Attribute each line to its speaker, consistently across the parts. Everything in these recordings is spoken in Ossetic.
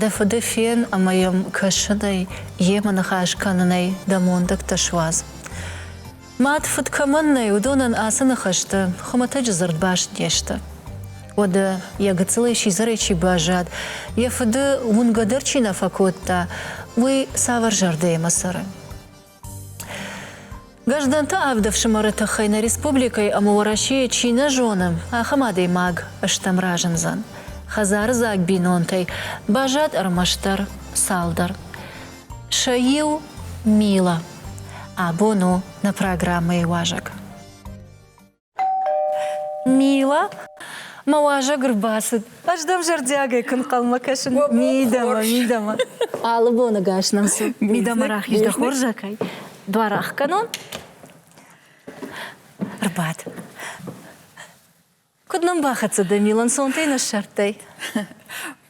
Speaker 1: Дӕ фыды фен ӕмӕ йӕм кӕсынӕй, йемӕ ныхас кӕнынӕй дӕ мондӕгтӕ суадз. Мад фыд кӕмӕн нӕй, уыдонӕн ацы ныхӕстӕ хуымӕтӕджы дзырдбаст не сты. Уӕдӕ, йӕ гыццылӕй сидзӕрӕй чи баззад, йӕ фыды уынгӕ дӕр чи нӕ фӕкодта, уый цавӕр зӕрдӕимӕ цӕры? Граждӕнты авд ӕфсымӕры тыххӕй нӕ республикӕйы ӕмӕ Уӕрӕсейы чи нӕ зонӕм, ахӕм адӕймаг стӕм разындзӕн. Хӕдзардзаг бинонтӕй баззад ӕрмӕстдӕр цалдӕр. Сӕ иу, Мила, абон у нӕ программӕйы уазӕг. Мила, мӕ уазӕг ӕрбацыд. Ӕз дӕм зӕрдиагӕй куы нхъӕлмӕ кӕсын. Мидӕмӕ, мидӕмӕ. Алы боны гӕс нӕм цы? Мидӕмӕ рахиз, дӕ хорзӕхӕй. Дуар ӕхгӕнон. Рбад. Куыд нӕм бахӕццӕ дӕ, Мила, ӕнцонтӕй нӕ ссардтай?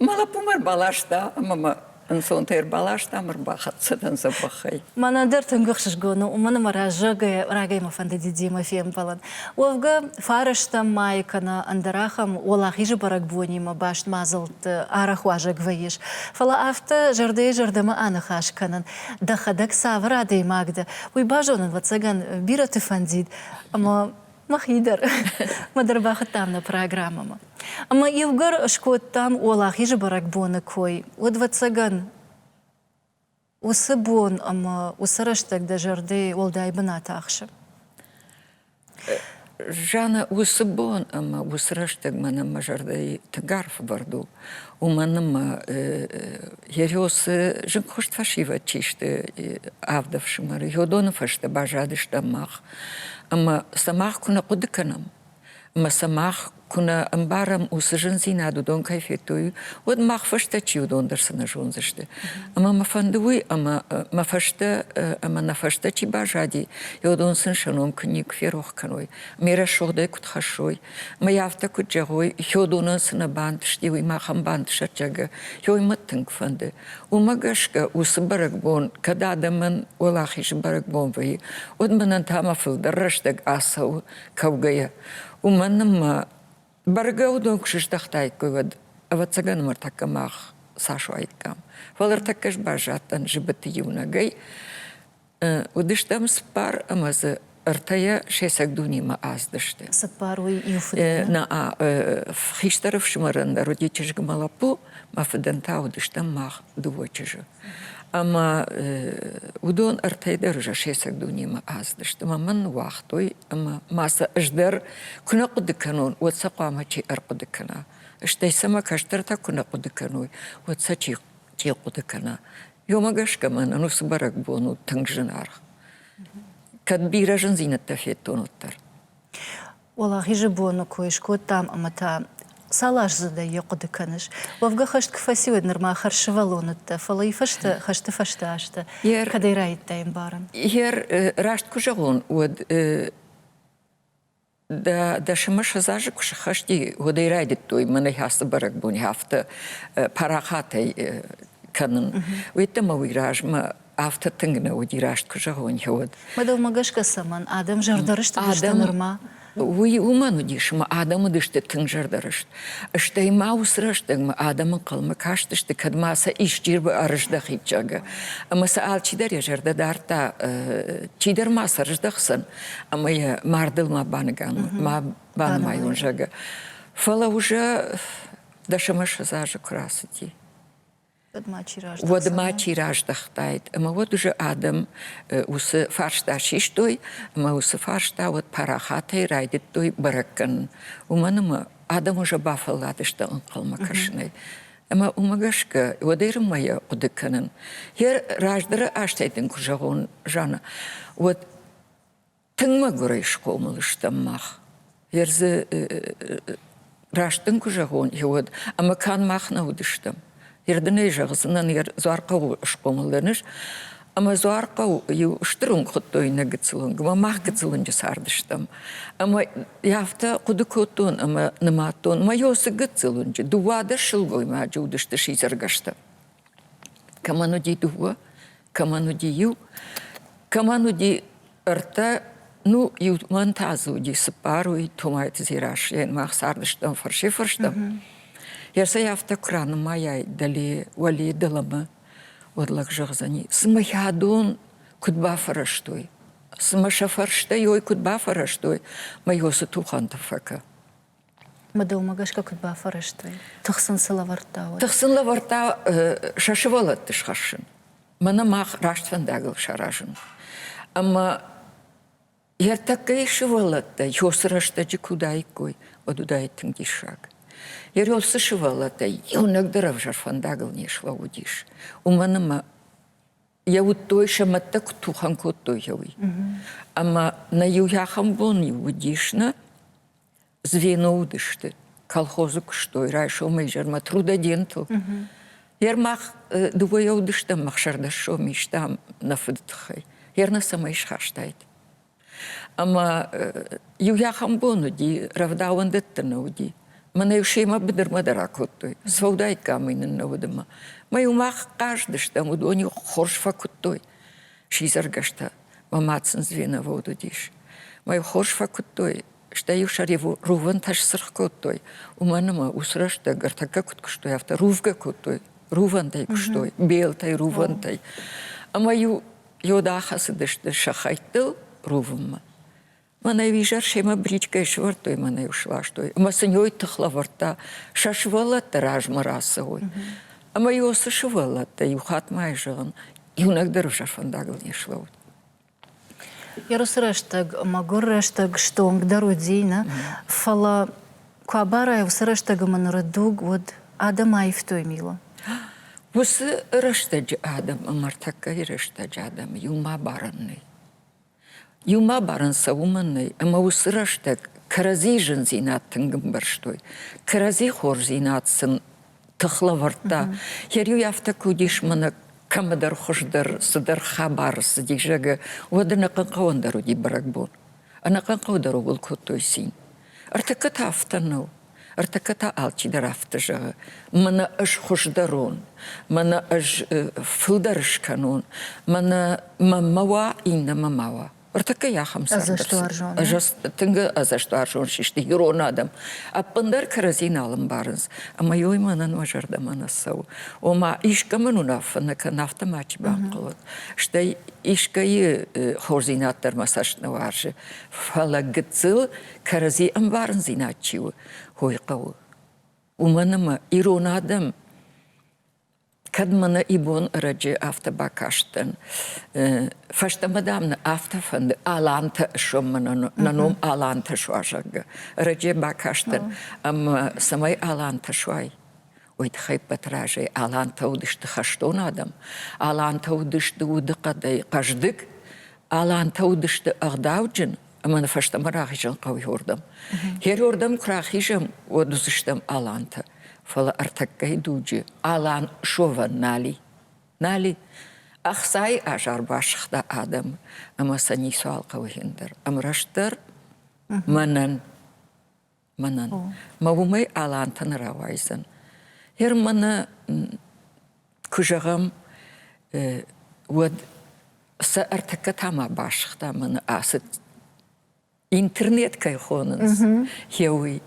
Speaker 1: Мӕ
Speaker 2: лӕппу мӕ рбаласта ӕмӕ мӕ ӕнцонтӕ ӕрбаластам, ӕрбахӕццӕ дӕн дзӕбӕхӕй. Мӕнӕ дӕр тынг
Speaker 1: ӕхсызгон у, уымӕн ӕмӕ раззагӕй рагӕй мӕ фӕнды дидимӕ фембӕлын. Уӕвгӕ, фарӕстӕм майы кӕнӕ ӕндӕр ахӕм уӕлахизы бӕрӕгбонимӕ баст мадзӕлтты арӕх уазӕг вӕййыс. Фӕлӕ афтӕ зӕрдӕйы-зӕрдӕмӕ аныхас кӕнын, дӕхӕдӕг цавӕр адӕймаг дӕ, уый базонын, ӕвӕццӕгӕн, бирӕты фӕндид. Ӕмӕ Мӕхи дӕр. Мӕ дӕр бахуыдтам нӕ программӕмӕ. Ӕмӕ иугӕр скодтам уӕлахизы бӕрӕгбоны кой, уӕд, ӕвӕццӕгӕн, уыцы бон ӕмӕ уыцы рӕстӕг дӕ зӕрдӕ уӕлдай бынат ахсы.
Speaker 2: Жанна, уыцы бон ӕмӕ уыцы рӕстӕг мӕнӕн мӕ зӕрдӕйы тынг арф бӕрд у. Уымӕн ӕмӕ йӕ рёсы зынгхуыст фӕсивӕд чи сты, авд ӕфсымӕры, Йодоны фӕстӕ баззадыстӕм мах. Ӕмӕ сӕ мах куы нӕ хъуыды кӕнӕм, ӕмӕ сӕ мах куы нӕ ӕмбарӕм, уыцы зындзинад уыдон кӕй федтой, уӕд мах фӕстӕ чи уыдон дӕр цы нӕ зондзысты. Ӕмӕ мӕ фӕнды уый, ӕмӕ мӕ фӕстӕ ӕмӕ нӕ фӕстӕ чи баззади, уыдон сын сӕ ном куы никуы ферох кӕной, ме рӕсугъдӕй куыд хӕссой. Мӕ афтӕ куыд зӕгъой, Хёдонӕн цы нӕ бантысти, уый махӕн бантысӕд, зӕгъгӕ, хёй мӕ тынг фӕнды. Уымӕ гӕсгӕ уыцы бӕрӕгбон, кӕд адӕмӕн уӕлахизы бӕрӕгбон вӕййы, уӕд мӕнӕн та мӕ фылдӕр рӕстӕг ацӕуы кӕугӕйӕ. Уымӕн ӕмӕ бӕргӕ уыдон куы сыздӕхтаиккой, уӕд, ӕвӕццӕгӕн, ӕмӕ ӕртӕккӕ мах цас уаиккам. Фӕлӕ ӕртӕккӕ сбӕззадтӕн зыбыты иунӕгӕй, Уыдыстӕм цыппар ӕмӕ дзы ӕртӕйӕ сесӕг дунемӕ аздысты. Цыппар уый иу
Speaker 1: фыд? Нӕ
Speaker 2: хистӕр ӕфсымӕрӕн дӕр уыди чызгмӕ лӕппу, мӕ фыдӕн та уыдыстӕм мах дыууӕ чызджы. Ӕмӕ уыдон ӕртӕй дӕр уже сесӕг дунемӕ аздысты. Мӕ мӕн ныууагътой ӕмӕ ма сӕ ӕз дӕр куы нӕ хъуыды кӕнон, уӕд сӕ хъуамӕ чи ӕрхъуыды кӕна? Стӕй сӕ мӕ кӕстӕртӕ куы нӕ хъуыды кӕной, уӕд сӕ чи те хъуыды кӕна. Ёмӕ гӕсгӕ мӕнӕн уыцы бӕрӕгбон у тынг зынаргъ. Кӕд бирӕ зындзинӕдтӕ федтон, уӕддӕр.
Speaker 1: Уӕлахизы боны кой скодтам ӕмӕ та цал аздзыдӕй йӕ хъуыды кӕныс? Уӕвгӕ хӕст куы фӕци, уӕд нырма хӕрзсывӕллон уыдтӕ, фӕлӕ йы фӕстӕ хӕсты фӕстӕ азтӕ йӕ кӕдӕй раедтай ӕмбарын? Йӕ раст
Speaker 2: куы зӕгъон, уӕд Дӕ, дӕсӕмӕ сӕдзазы куы сыххӕсти, уӕдӕй райдыдтой мӕнӕй ацы бӕрӕгбоны афтӕ парахатӕй кӕнын. Уеддӕмӕ уый размӕ афтӕ тынг нӕ уыди, раст куы зӕгъон, уӕд. Мадӕлмӕ гӕсгӕ
Speaker 1: цӕмӕн адӕм зӕрдӕрыст уыдысты нырма? Уый уымӕн
Speaker 2: уыдис, ӕмӕ адӕм уыдысты тынг зӕрдӕрыст. Стӕй ма уыцы рӕстӕгмӕ адӕм ӕнхъӕлмӕ кастысты, кӕд ма сӕ исчи ӕрыздӕхид, зӕгъгӕ. Ӕмӕ сӕ алчидӕр йӕ зӕрдӕ дардта, чидӕр ма сӕ рыздӕхдзӕн, ӕмӕ йӕ мардыл ма баныган, ма банымайон, зӕгъы. Фӕлӕ уже дӕсӕмӕ ссӕдз азы куы рацыди. Уӕдмӕ чи раздӕхтаид? Уӕдмӕ чи раздӕхтаид. Ӕмӕ уӕд уже адӕм уыцы фарста систой, ӕмӕ уыцы фарста уӕд парахатӕй райдыдтой бӕрӕг кӕнын. Уымӕн ӕмӕ адӕм уже бафӕлладысты ӕнхъӕлмӕ кӕсынӕй. Ӕмӕ уымӕ гӕсгӕ уӕд Ирынмӕ йӕ хъуыды кӕнын. Йӕ раздӕры азтӕй дын куы зӕгъон, Жанна, уӕд тынг мӕгуырӕй схъомыл стӕм мах. Йе рдзы раст дын куы зӕгъон, уӕд ӕмӕ канд мах нӕ уыдыстӕм. Йе рдынӕй зӕгъдзынӕн, йе дзуар хъӕуы схъомыл дӕн ис, Ӕмӕ Дзуархъӕу-иу стыр уынг хуыдтой нӕ гыццыл уынг, ӕмӕ мах гыццыл уынджы цардыстӕм. Ӕмӕ йӕ афтӕ хъуыды кодтон ӕмӕ нымадтон, мӕ йо цы гыццыл уынджы, дыууӕдӕр сылгоймаджы уыдысты сидзӕргӕстӕ. Кӕмӕн уыди дыууӕ, кӕмӕн уыди иу, кӕмӕн уыди ӕртӕ, ну, иу мӕн та дзы уыди цыппаруй, Томайты Дзераслийӕн, мах цардыстӕм фӕрсӕй-фӕрстӕм. Йӕ сӕ афтӕ куы ранымайай дӕле, уӕле, дӕлӕмӕ, уӕд лӕг зӕгъдзӕни, цымӕ хӕдон куыд бафӕрӕзтой? Цымӕ сӕ фӕрстӕ йой куыд бафӕрӕзтой? Мӕ йо цы тухӕнты фӕкӕ. Мыдылмӕ
Speaker 1: гӕсгӕ куыд бафӕрӕзтой? Тых сын цы лӕвӕрдта, уӕд? Тых сын лӕвӕрдта
Speaker 2: сӕ сывӕллӕтты схӕссын, мӕнӕ мах раст фӕндагыл саразын. Ӕмӕ Ертӕккӕйы сывӕллӕттӕ ёсы рӕстӕджы куы уыдаиккой, уӕд уыдаид тынг диссаг. Йӕ род цы сывӕллӕттӕй иунӕгдӕр ӕвзӕр фӕндагыл не слӕууыдис, уымӕн ӕмӕ йӕ уыдтой, сӕ мӕдтӕ куыд тухӕн кодтой, уый. Ӕмӕ нӕ иу ахӕм бон-иу уыдис нӕ, Звено уыдысты. Колхозы куыстой райсомы изӕрмӕ трудодентыл. Йер мах дыууӕйӕ уыдыстӕм ӕхсӕрдӕсом истам нӕ фыды тыххӕй. Йер нӕ цӕмӕй схастайт. Ӕмӕ иу ахӕм бон уыди, рӕвдауӕндӕттӕ нӕ уыди. Мӕнӕ семӕ быдырмӕ дӕр акодтой. Сӕудаиккамӕй нын нӕ уыд ӕмӕ. Мӕ-иу мах хъаздыстӕм, уыдон-иу хорз фӕкуыдтой. Сидзӕргӕстӕ. Мӕ ма сын звеновод уыдис. Мӕ-иу хорз фӕкуыдтой, стӕй-иу сӕ рувӕнтӕ сцыргъ кодтой, уымӕн ӕмӕ уыцы рӕстӕг ӕртӕггӕ куыд куыстой, афтӕ рувгӕ кодтой, рувӕнтӕй куыстой, белтӕй, рувӕнтӕй. Ӕмӕ-иу йод ахӕцыдысты сӕ хӕйттыл рувынмӕ. Мӕнӕ-иу изӕр семӕ бричкӕйы сывӕрдтой мӕнӕ-иу сластой, ӕмӕ сын йой тых лӕвӕрдта, сӕ сывӕллӕттӕ размӕ рацӕуой. Ӕмӕ-иу цы сывӕллӕттӕ иу хатт ма зӕгъын, иунӕг дӕр ӕвзӕр фӕндагыл не слӕууыд. Ерусы
Speaker 1: рӕстӕг мӕгуыр рӕстӕг стонгдӕр уыди, нӕ? Фӕлӕ куы абарай, уыцы рӕстӕгы мын ныры дуг уӕд адӕм аивтой мило. Уыцы
Speaker 2: рӕстӕджы адӕм ӕмӕ ӕртӕккӕйы рӕстӕджы адӕм иумӕ абарӕн нӕй. Иумӕ абарӕн сӕ уымӕн нӕй, ӕмӕ уыцы рӕстӕг кӕрӕдзийы зындзинад тынг ӕмбӕрстой. Кӕрӕдзи хорздзинад сын тыхлӕвӕрдта. Хериу афтӕ куы уыдис мӕнӕ кӕмӕдӕр хуыздӕр, цыдӕр хабар цыди, зӕгы, уӕд ӕнӕхъӕнхъӕуӕн дӕр уыди бӕрӕгбон. Ӕнӕхъӕнхъӕуы ууыл кодтой цин. Ӕртыккӕ та афтӕ нӕу. Ӕртыккӕ та алчидӕр афтӕ зӕгъы. Мӕнӕ ӕз хуыздӕрон, мӕнӕ ӕз фылдӕр скӕнон, мӕнӕ мӕ ма уа, иннӕмӕ ма уа. Ӕртыккӕй ахӕм ӕзӕстуарзон.
Speaker 1: Тынг
Speaker 2: ӕзӕстуарзон систы ирон адӕм. Ӕппындӕр кӕрӕдзи нал ӕмбарынц, ӕмӕ йой мӕнӕн мӕ зӕрдӕмӕ нӕ цӕуы. Ома, искӕмӕн уынаффӕ нӕ кӕн, афтӕ мачи банхъӕлӕд. Стӕй искӕйы хорздзинад дӕр мӕ цӕст нӕ уарзы. Фӕлӕ гыццыл кӕрӕдзи ӕмбарындзинад чи у, хойы хъӕуы. Уымӕн ӕмӕ ирон адӕм Кӕд мӕнӕ ибон ӕрӕджы афтӕ бакастӕн, фӕстӕмӕ, дам, нӕ афтӕ фӕнды Алантӕ соммӕ нӕ ном Алантӕ суа, зӕгъгӕ. Ӕрӕджы бакастӕн, ӕмӕ цӕмӕй Алантӕ суай, уый тыххӕй ӕппӕт разӕй Алантӕ уыдысты хӕстон адӕм, Алантӕ уыдысты удыхъӕдӕй хъӕздыг, Алантӕ уыдысты ӕгъдауджын Ӕмӕ ны фӕстӕмӕ рахизын хъӕуы уырдӕм. Гериордӕм куы рахизӕм, уӕд уыдзыстӕм алантӕ. Фӕлӕ ӕртӕккӕйы дуджы алан шовӕн нал и. Нал и. Ӕхцайы азар басыгъта адӕмы, ӕмӕ сӕ ницуал хъӕуы хин дӕр. Ӕмрастдӕр мӕнӕн мӕнӕн. Мӕ уымӕй алантӕ нӕ рауайдзӕн. Германы куы зӕгъӕм, уӕд сӕ ӕртыккӕ та ма басыгъта мӕны ацыд интернет кӕй хонынц, хеуый.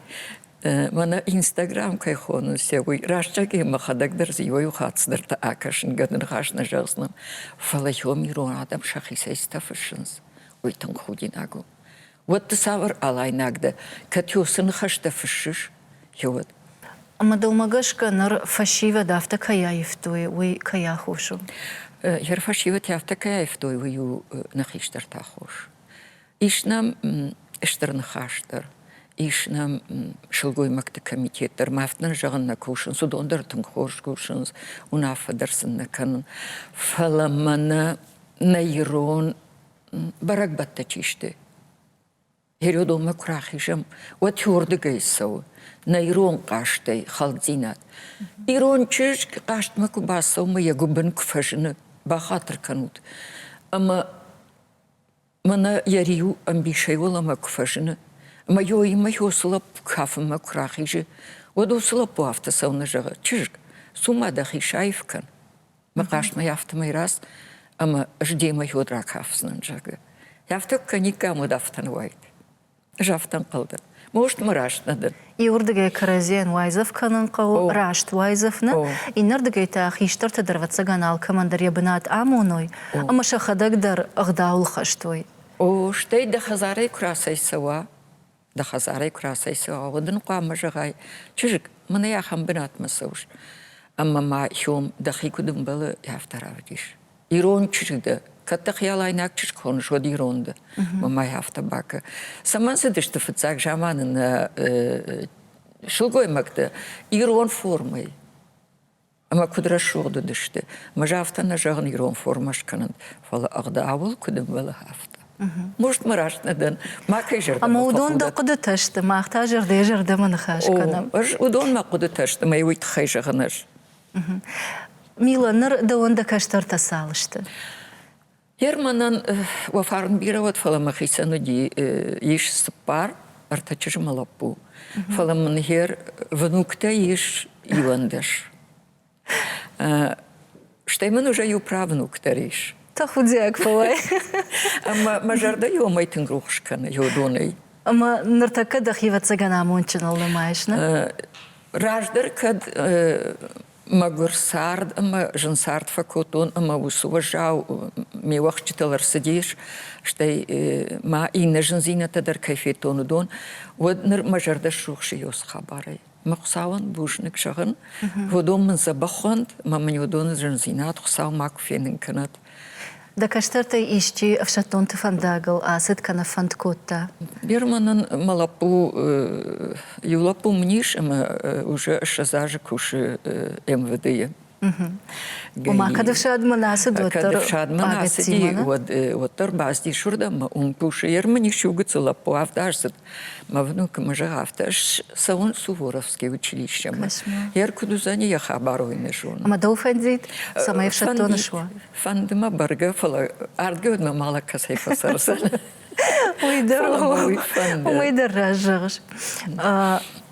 Speaker 2: Мӕнӕ Инстаграм кӕй хонынц, уый растчакӕй мӕхӕдӕг дӕр иуӕй хатт цыдӕртӕ акӕсынгӕ ныхас нӕ зӕгъдзынӕн, фӕлӕ иом ирон адӕм сӕхицӕй цытӕ фыссынц, уый тынг худинаг у. уӕд ды цавӕр алайнаг дӕ, Котёсы ныхӕстӕ фыссыс? Геод. Ӕмӕ дӕумӕ
Speaker 1: гӕсгӕ ныр фӕсивӕд афтӕ кӕй аивтой, уый кӕй аххос у? Йӕ
Speaker 2: фӕсивӕд афтӕ кӕй аивтой, уый у нӕ хистӕртӕ хос. Ис нӕм стыр ныхас дӕр, ис нӕм сылгоймӕгты комитет дӕр, мӕфт нын зӕгъын нӕ кусынц, уыдон дӕр тынг хорз кусынц, уынаффӕ дӕр сын нӕ кӕнын. Фӕлӕ мӕнӕ нӕ ирон бӕрӕгбӕттӕ чи сты. Геродонмӕ куы рахизӕм, уӕд тюрдыгӕй цӕуы, нӕ ирон хъазтӕй хӕлддзинад. Ирон чызг хъазтмӕ куы бацӕуы, йӕ гуыбын куы фӕзыны, бахатыр кӕнут. Ӕмӕ мӕнӕ йӕ риу ӕмбисӕй уӕлӕмӕ куы фӕзыны, ӕмӕ йоимӕ йо цы лӕппу кафынмӕ куы рахизы, уӕд уыцы лӕппу афтӕ цӕуны зӕгъы, чызг, цу-ма дӕхи саив кӕн. Мӕ хъасмӕ афтӕмӕй раст, ӕмӕ ӕз демӕ уӕд ракафдзынӕн, зӕгъы. Афтӕ кӕниккам уӕд афтӕн уайд. Ӕз афтӕ ӕнхъӕл дӕн. Most мӕ раст нӕ дӕн. Иуырдыгӕй
Speaker 1: кӕрӕдзийӕн уайдзӕф кӕнын хъӕуы, раст уайдзӕф нӕ, иннӕрдыгӕй та хистӕрты дӕргъӕццӕгӕн алкӕмӕндӕр йӕ бынат амоной ӕмӕ сӕхӕдӕг дӕр ӕгъдауыл хӕстой. О, стӕй
Speaker 2: дӕ хӕдзарӕй куы рацӕйцӕуа, дӕ хӕдзарӕй куы рацӕйцӕуа, уӕд ын хъуамӕ зӕгъай, чызг, мын ӕй ахӕм бынатмӕ цӕуыс, ӕмӕ ма Хьом дӕхи куыд ӕмбӕлы, афтӕ равдис. Ирон чызг дӕ, кӕд дӕ хиалайнаг чызг хоныс, уӕд ирон дӕ. Мӕ май афтӕ бакӕ. Цӕмӕн цыдысты фыццаг заманы нӕ сылгоймӕгтӕ ирон формӕйы? ӕмӕ куыд рӕсугъд уыдысты. Мӕз афтӕ нӕ зӕгъын ирон формӕ скӕнын, фӕлӕ ӕгъдауыл куыд ӕмбӕлы, афтӕ. Может, мы раст нӕ дӕн, макӕй зӕрдӕмӕ Ӕмӕ уыдон дӕ хъуыдытӕ
Speaker 1: сты, мах та зӕрдӕ-зӕрдӕмӕ ныхас кӕнӕм. Ӕз уыдон мӕ хъуыдытӕ
Speaker 2: сты, мӕ уый тыххӕй зӕгъын ӕз.
Speaker 1: Мила, ныр дӕуӕн дӕ кӕстӕртӕ цал сты?
Speaker 2: Ерманӕн уӕ фарн бирӕ уӕд, фӕлӕ мӕхицӕн уыди ис цыппар ӕртӕ чызджымӕ лӕппу. Фӕлӕ мын гер внуктӕ ис иуӕндӕс. Стӕй мын уже иу правнук дӕр ис. Тӕхудиаг
Speaker 1: фӕуай. Ӕмӕ
Speaker 2: мӕ зӕрдӕ иомӕй тынг рухс кӕны йодонӕй. Ӕмӕ ныртӕккӕ
Speaker 1: дӕхи ӕвӕццӕгӕн амондджыныл нымайыс, нӕ? Раздӕр
Speaker 2: кӕд Мӕгуыр цард ӕмӕ зын цард фӕкодтон ӕмӕ уыцы уӕззау ме уӕхсчытыл ӕрцыдис, стӕй ма иннӕ зындзинӕдтӕ дӕр кӕй федтон, уыдон, уӕд ныр мӕ зӕрдӕ срухсы Иос хабарӕй. Мӕ Хуыцауӕн бузныг зӕгъын, уыдон мын дзӕбӕх уӕнт, ӕмӕ мын уыдоны зындзинад Хуыцау макуы фенын кӕнӕд. Дӕ
Speaker 1: кӕстӕртӕй исчи ӕфсӕддонты фӕндагыл ацыд кӕнӕ фӕнд кодта? Бирӕ мӕнӕн
Speaker 2: мӕ лӕппу иу лӕппу мын ис ӕмӕ уже ссӕдз азы кусы МВД-йы. Ома,
Speaker 1: кӕд ӕфсадмӕ нӕ ацыд, уӕддӕр кӕд ӕфсадмӕ нӕ ацыди,
Speaker 2: уӕд уӕддӕр бацыдис уырдӕм, ӕмӕ уым кусы. Йе рмын ис иу гыццыл лӕппу, авд аздзыд, Мӕ внукы мӕ зӕгъ афтӕ, цӕуын Суворовский училищемӕ. Йӕ ркуыд уыдзӕни йӕ хабар ой не зонын. Ӕмӕ дӕу фӕндид,
Speaker 1: цӕмӕй ӕфсӕддоны суа? Фӕнды мӕ бӕргӕ,
Speaker 2: фӕлӕ ардгӕ уӕдмӕ мӕлӕг кӕцӕй фӕцӕрдзӕн. Уый дӕр уый
Speaker 1: фӕнды. Уый дӕр раз зӕгъыс.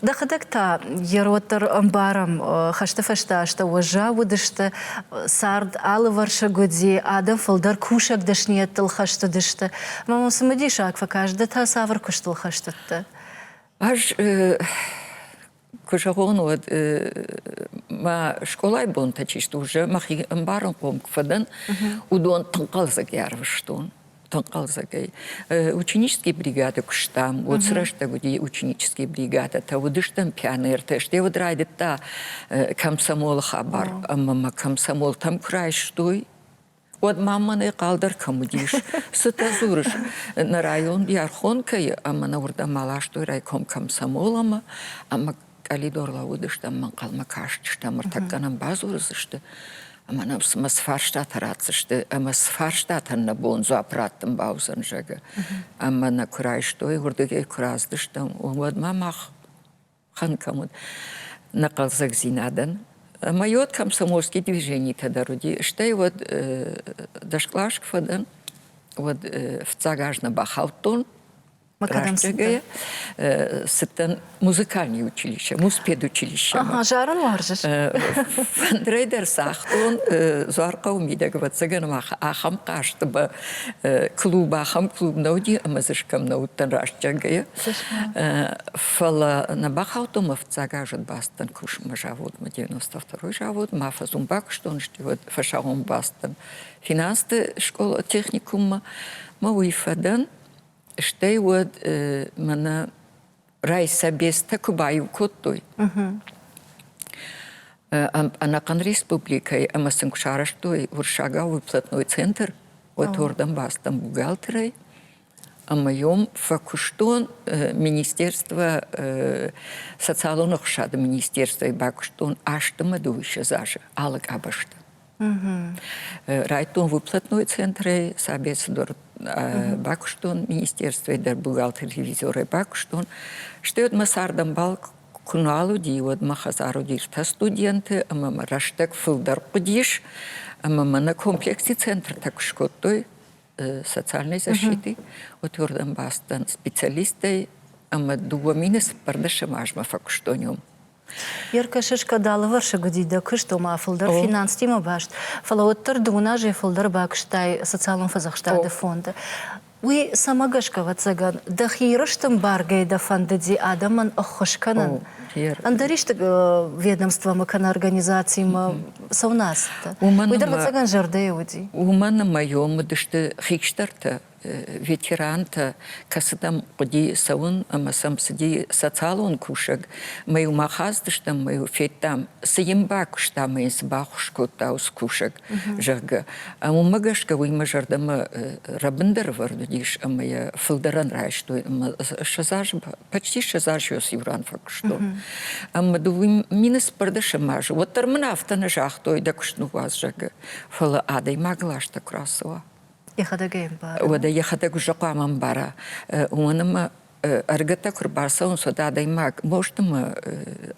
Speaker 1: Дӕхӕдӕг та йӕроддӕр ӕмбарӕм, хӕсты фӕстӕ астӕу уӕззау уыдысты, цард алывӕрсыг уыди, адӕм фылдӕр кусӕг дӕсныйӕдтыл хӕстыдысты. Ӕмӕ мын цымыдисаг фӕкаст, ды та цавӕр куыстыл хӕстыдтӕ? Ӕз
Speaker 2: куы зӕгъон, уӕд мӕ скъолайы бонтӕ чи стур, мӕхи ӕмбарынхъом куы фӕдӕн, уыдон ӕнхъӕлдзӕг ӕрвыстон. тӕнхъӕлдзӕгӕй. Ученический бригады куыстам, уод срӕстӕг уыди ученический бригадӕтӕ, уыдыстӕм пионертӕ, стӕй уыд райдыдта комсомолы хабар, ӕмӕ мӕ комсомолтӕм куы райстой, уӕд ма мӕнӕй хъалдӕр кӕм уыдис. Цытӕ дзурыс, нӕ район Иархонкӕйы ӕмӕ нӕ уырдӕм аластой райком комсомол ӕмӕ ӕмӕ къӕлидор лӕууыдыстӕм, ӕнхъӕлмӕ кастыстӕм, ӕртӕккӕ нӕм бадзурыдзысты, ӕмӕ нӕм цымӕ цы фарстатӕ ратдзысты, ӕмӕ цы фарстатӕн нӕ бон дзуапп раттын бауыдзӕн, зӕгъы. Ӕмӕ нӕ куы райстой, уырдыгӕй куы раздыстӕм, уӕдмӕ мах хан кӕм уыд, нӕ хъӕлдзӕгдзинадӕн. Ӕмӕ йод комсомольский движенитӕ дӕр уыди, стӕй уӕд дӕс кълас куы фӕдӕн, уӕд фыццаг аз нӕ бахаудтон, Рӕстӕгӕй цыдтӕн музыкальный училище, муспедучилище. Ага, зарын уарзыс?
Speaker 1: Фӕндырӕй
Speaker 2: дӕр цагътон Дзуархъӕуы мидӕг, ӕвӕццӕгӕн ма ахӕм хъазты ба клуб, ахӕм клуб нӕ уыди, ӕмӕ дзы скӕм нӕ уыдтӕн рӕстӕгӕй. Фӕлӕ нӕ бахаудтон мӕ фыццаг азы бацыдтӕн кусынмӕ заводмӕ, 92-й завод, ма фӕзун бакуыстон, сты уӕд фӕсагъон бацыдтӕн финансты скъола, техникуммӕ, мӕ уый фӕдӕн Стӕй уӕд мӕнӕ райсобецтӕ куы баиу кодтой, ӕнӕхъӕн республикӕйы ӕмӕ сын куы сарӕзтой уырыссагау выплатной центр уӕдуырдӕм бацыдтӕн бухгалтерӕй ӕмӕ йом фӕкуыстон министерство социалон ӕхсады министерствӕйы бакуыстон астымӕ дыууиссӕдз азы алы къабӕзты Райдтон выплатной центрӕй, сообществдор бакуыстон, министерствӕй дӕр бухгалтер-ревизорӕй бакуыстон. Стӕй уӕдмӕ цардӕмбал куы нал уыди, уӕд мӕ хӕдзар уыдис тӕ студенты, ӕмӕ мӕ рӕстӕг фылдӕр хъуыдис, ӕмӕ мӕ нӕ комплекси центртӕ куы скодтой социальной защиты, уӕдуырдӕм бацыдтӕн специалистӕй, ӕмӕ дыууӕ мины цыппӕрдӕсӕм азмӕ фӕкуыстон уым.
Speaker 1: Еркашешка далывӕрсыг уыди дӕ куыст, ома фылдӕр финанстимӕ баст, фӕлӕ уӕддӕр дыууын азӕй фылдӕр бакуыстай социалон фӕдзӕхстады фонды. Уый цӕмӕ гӕсгӕ, ӕвӕццӕгӕн, дӕхи рыстын бӕргӕ дӕ фӕндыди адӕмӕн ӕххуыс кӕнын, ӕндӕр исты ведомствомӕ кӕнӕ организацимӕ цӕуынӕ ацыдтӕ? Уый дӕр ӕвӕццӕгӕн зӕрдӕйы уыди. Уымӕн ӕмӕ йӕм
Speaker 2: уыдысты хикстӕртӕ, ветерантӕ, кӕцытӕм хъуыди цӕуын ӕмӕ сӕм цыди социалон кусӕг, мӕ-иу ма хаздыстӕм, мӕ-иу федтам, цы йын бакуыста мӕ йын цы баххуыс кодта уыцы кусӕг, зӕгъгӕ. Уымӕ гӕсгӕ уый мӕ зӕрдӕмӕ рӕбындӕр ӕвӕрд уыдис ӕмӕ йӕ фылдӕрӕн райстой ӕмӕ сӕдз азы, почти сӕдз азы йос иу ран фӕкуыстон. Ӕмӕ дыууын минус сбӕрдӕсӕм азы уӕддӕр мын афтӕ нӕ загътой, дӕ куыст ныууадз, зӕгъгӕ. Фӕлӕ адӕймаг ласта куы рацӕуа.
Speaker 1: Уӕдӕ йӕхӕдӕг уже
Speaker 2: хъуамӕ ӕмбара, уымӕн ӕмӕ ӕргӕтӕ куы рбацӕуынц, уӕд адӕймаг бостымы